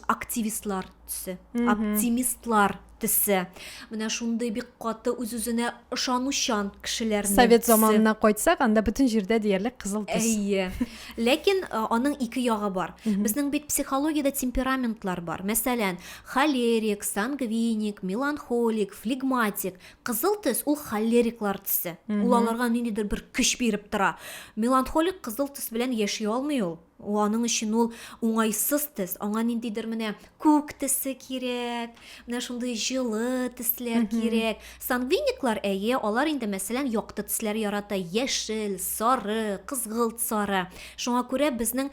активистлар төсе, оптимистлар төсе. Менә шундый бик каты үз-үзенә ышанучан кешеләр. Совет заманына кайтсак, анда бөтен җирдә диярлек кызыл төс. Әйе. Ләкин аның ике ягы бар. Безнең бит психологиядә темпераментлар бар. Мәсәлән, Холерик, сангвиник, меланхолик, флегматик. Кызыл төс ул холериклар төсе. Ул аларга ниндидер бер көч биреп тора. Меланхолик кызыл төс белән яши алмый ул. Ул аның өчен ул уңайсыз төс. Аңа ниндидер менә күк төсе кирәк, менә шундый җылы төсләр кирәк. Сангвиниклар әйе, алар инде мәсәлән якты төсләр ярата, яшел, сары, кызгылт сары. Шуңа күрә безнең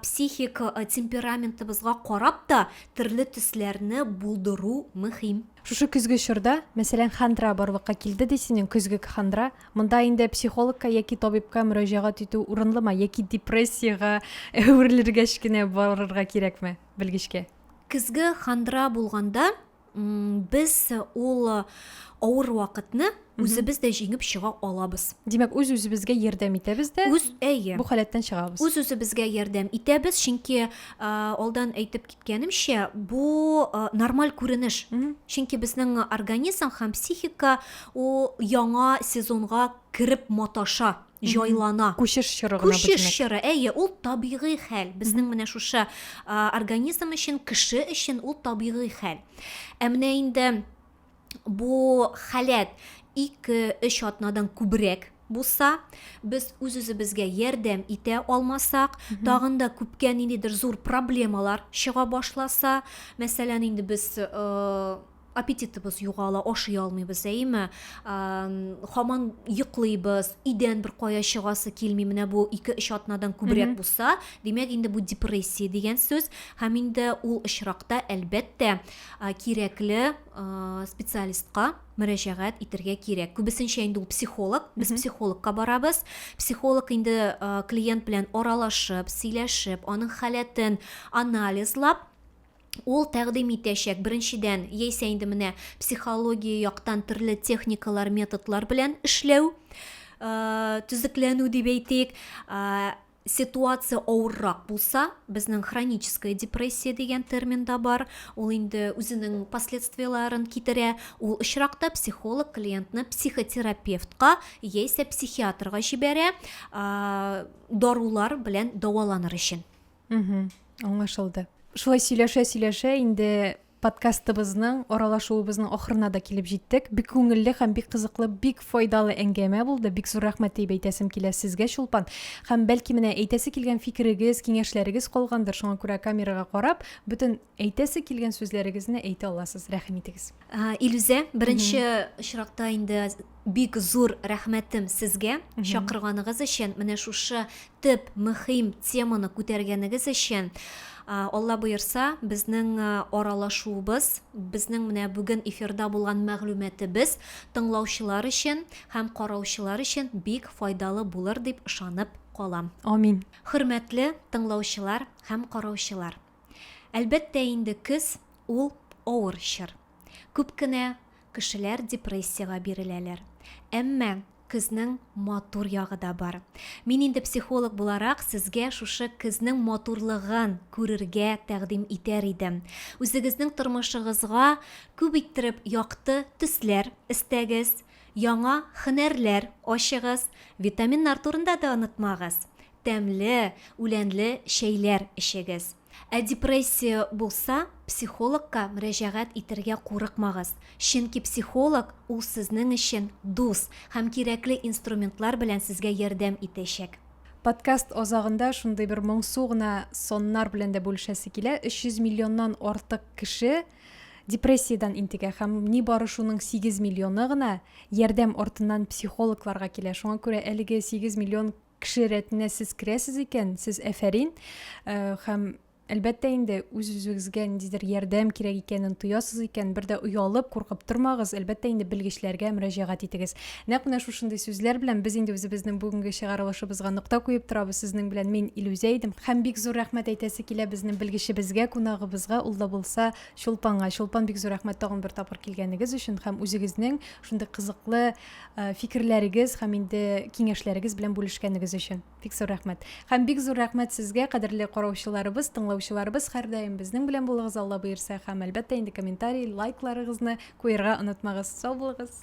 психик темпераментыбызга карап та төрле төсләрне булдыру мөһим. Шушы көзге чорда, мәсәлән, хандра барлыкка килде ди синең көзгек хандра. Монда инде психологка яки табибка мөрәҗәгать итү урынлымы яки депрессиягә әверелергәч кенә барырга кирәкме белгечкә? Көзге хандра булганда, без ул авыр вакытны үзебез дә җиңеп чыга алабыз димәк үз үзебезгә ярдәм итәбез дә үз әйе бу халәттән чыгабыз үз үзебезгә ярдәм итәбез чөнки алдан әйтеп киткәнемчә бу нормаль күренеш чөнки безнең организм һәм психика ул яңа сезонга кереп маташа җайлана. Күчеш чоры гына бу, димәк. Күчеш чоры, әйе, ул табигый хәл. Безнең менә шушы организм өчен, кеше өчен ул табигый хәл. Ә менә инде бу халәт ике-өч атнадан күбрәк булса, без үз-үзебезгә ярдәм итә алмасак, тагын да күпкә ниндидер зур проблемалар чыга башласа, мәсәлән, инде без Аппетитыбыз югала, ашый алмыйбыз, әйеме? Хаман йоклыйбыз, өйдән бер кая чыгасы килми, менә бу 2-3 атнадан күбрәк булса, димәк инде бу депрессия дигән сүз. Һәм инде ул очракта, әлбәттә, кирәкле специалистка мөрәҗәгать итергә кирәк. Күбесенчә инде ул психолог, без психологка барабыз. Психолог инде клиент белән аралашып, сөйләшеп, аның халәтен анализлап, ул тәкъдим итәчәк. Беренчедән, яисә инде менә психология яктан төрле техникалар, методлар белән эшләү, төзекләнү дип әйтик. Ситуация авыррак булса, безнең хроническая депрессия дигән термин да бар. Ул инде үзенең последствияләрен китерә. Ул очракта психолог клиентны психотерапевтка яисә психиатрга җибәрә, дарулар белән дәваланыр өчен. аңлашылды шулай сөйләшә сөйләшә инде подкастыбызның аралашуыбызның ахырына да килеп җиттек бик күңелле һәм бик кызыклы бик файдалы әңгәмә булды бик зур рәхмәт дип әйтәсем килә сезгә чулпан һәм бәлки менә әйтәсе килгән фикерегез киңәшләрегез калгандыр шуңа күрә камерага карап бөтен Әйтәсе килгән сүзләрегезне әйтә аласыз, рәхим итегез. Илүзә, беренче очракта инде бик зур рәхмәтем сезгә чакырганыгыз өчен, менә шушы төп мөһим теманы күтәргәнегез өчен. Алла боерса, безнең аралашуыбыз, безнең менә бүген эфирда булган мәгълүматыбыз тыңлаучылар өчен һәм караучылар өчен бик файдалы булыр дип ышанып калам. Амин. Хөрмәтле тыңлаучылар һәм караучылар, Әлбәттә инде, көз, ул, авыр чор. Күп кенә кешеләр депрессиягә биреләләр. Әмма көзнең матур ягы да бар. Мин инде психолог буларак сезгә шушы көзнең матурлыгын күрергә тәкъдим итәр идем. Үзегезнең тормышыгызга күп иттереп якты төсләр өстәгез, яңа һөнәрләр ачыгыз, витаминнар турында да онытмагыз. тәмле, үләнле чәйләр эчегез. Ә депрессия булса, психологка мөрәҗәгать итәргә курыкмагыз, чөнки психолог ул сезнең өчен дус һәм кирәкле инструментлар белән сезгә ярдәм итәчәк. Подкаст азагында шундый бер моңсу гына саннар белән дә бүлешәсе килә, 300 миллионнан артык кеше депрессиядән интегә һәм нибары шуның 8 миллионы гына ярдәм артыннан психологларга килә. Шуңа күрә әлеге 8 миллион Кеше рәтенә сез керәсез икән, сез әфәрин. Хәм Әлбәттә инде үз-үзегезгә ниндидер ярдәм кирәк икәнен тоясыз икән, бер дә оялып, куркып тормагыз. Әлбәттә инде белгечләргә мөрәҗәгать итегез. Нәкъ менә шушындый сүзләр белән без инде үзебезнең бүгенге чыгарылышыбызга нокта куеп торабыз. Сезнең белән мин Илүзә идем. Хәм бик зур рәхмәт әйтәсе килә безнең белгечебезгә, кунагыбызга, ул да булса Чулпанга. Чулпан, бик зур рәхмәт тагын бер тапкыр килгәнегез өчен хәм үзегезнең шундый кызыклы Э, фикерләрегез һәм инде киңәшләрегез белән бүлешкәнегез өчен бик зур рәхмәт һәм бик зур рәхмәт сезгә кадерле караучыларыбыз тыңлаучыларыбыз һәрдаим безнең белән булыгыз алла боерса һәм әлбәттә инде комментарий лайкларыгызны куерга онытмагыз сау булыгыз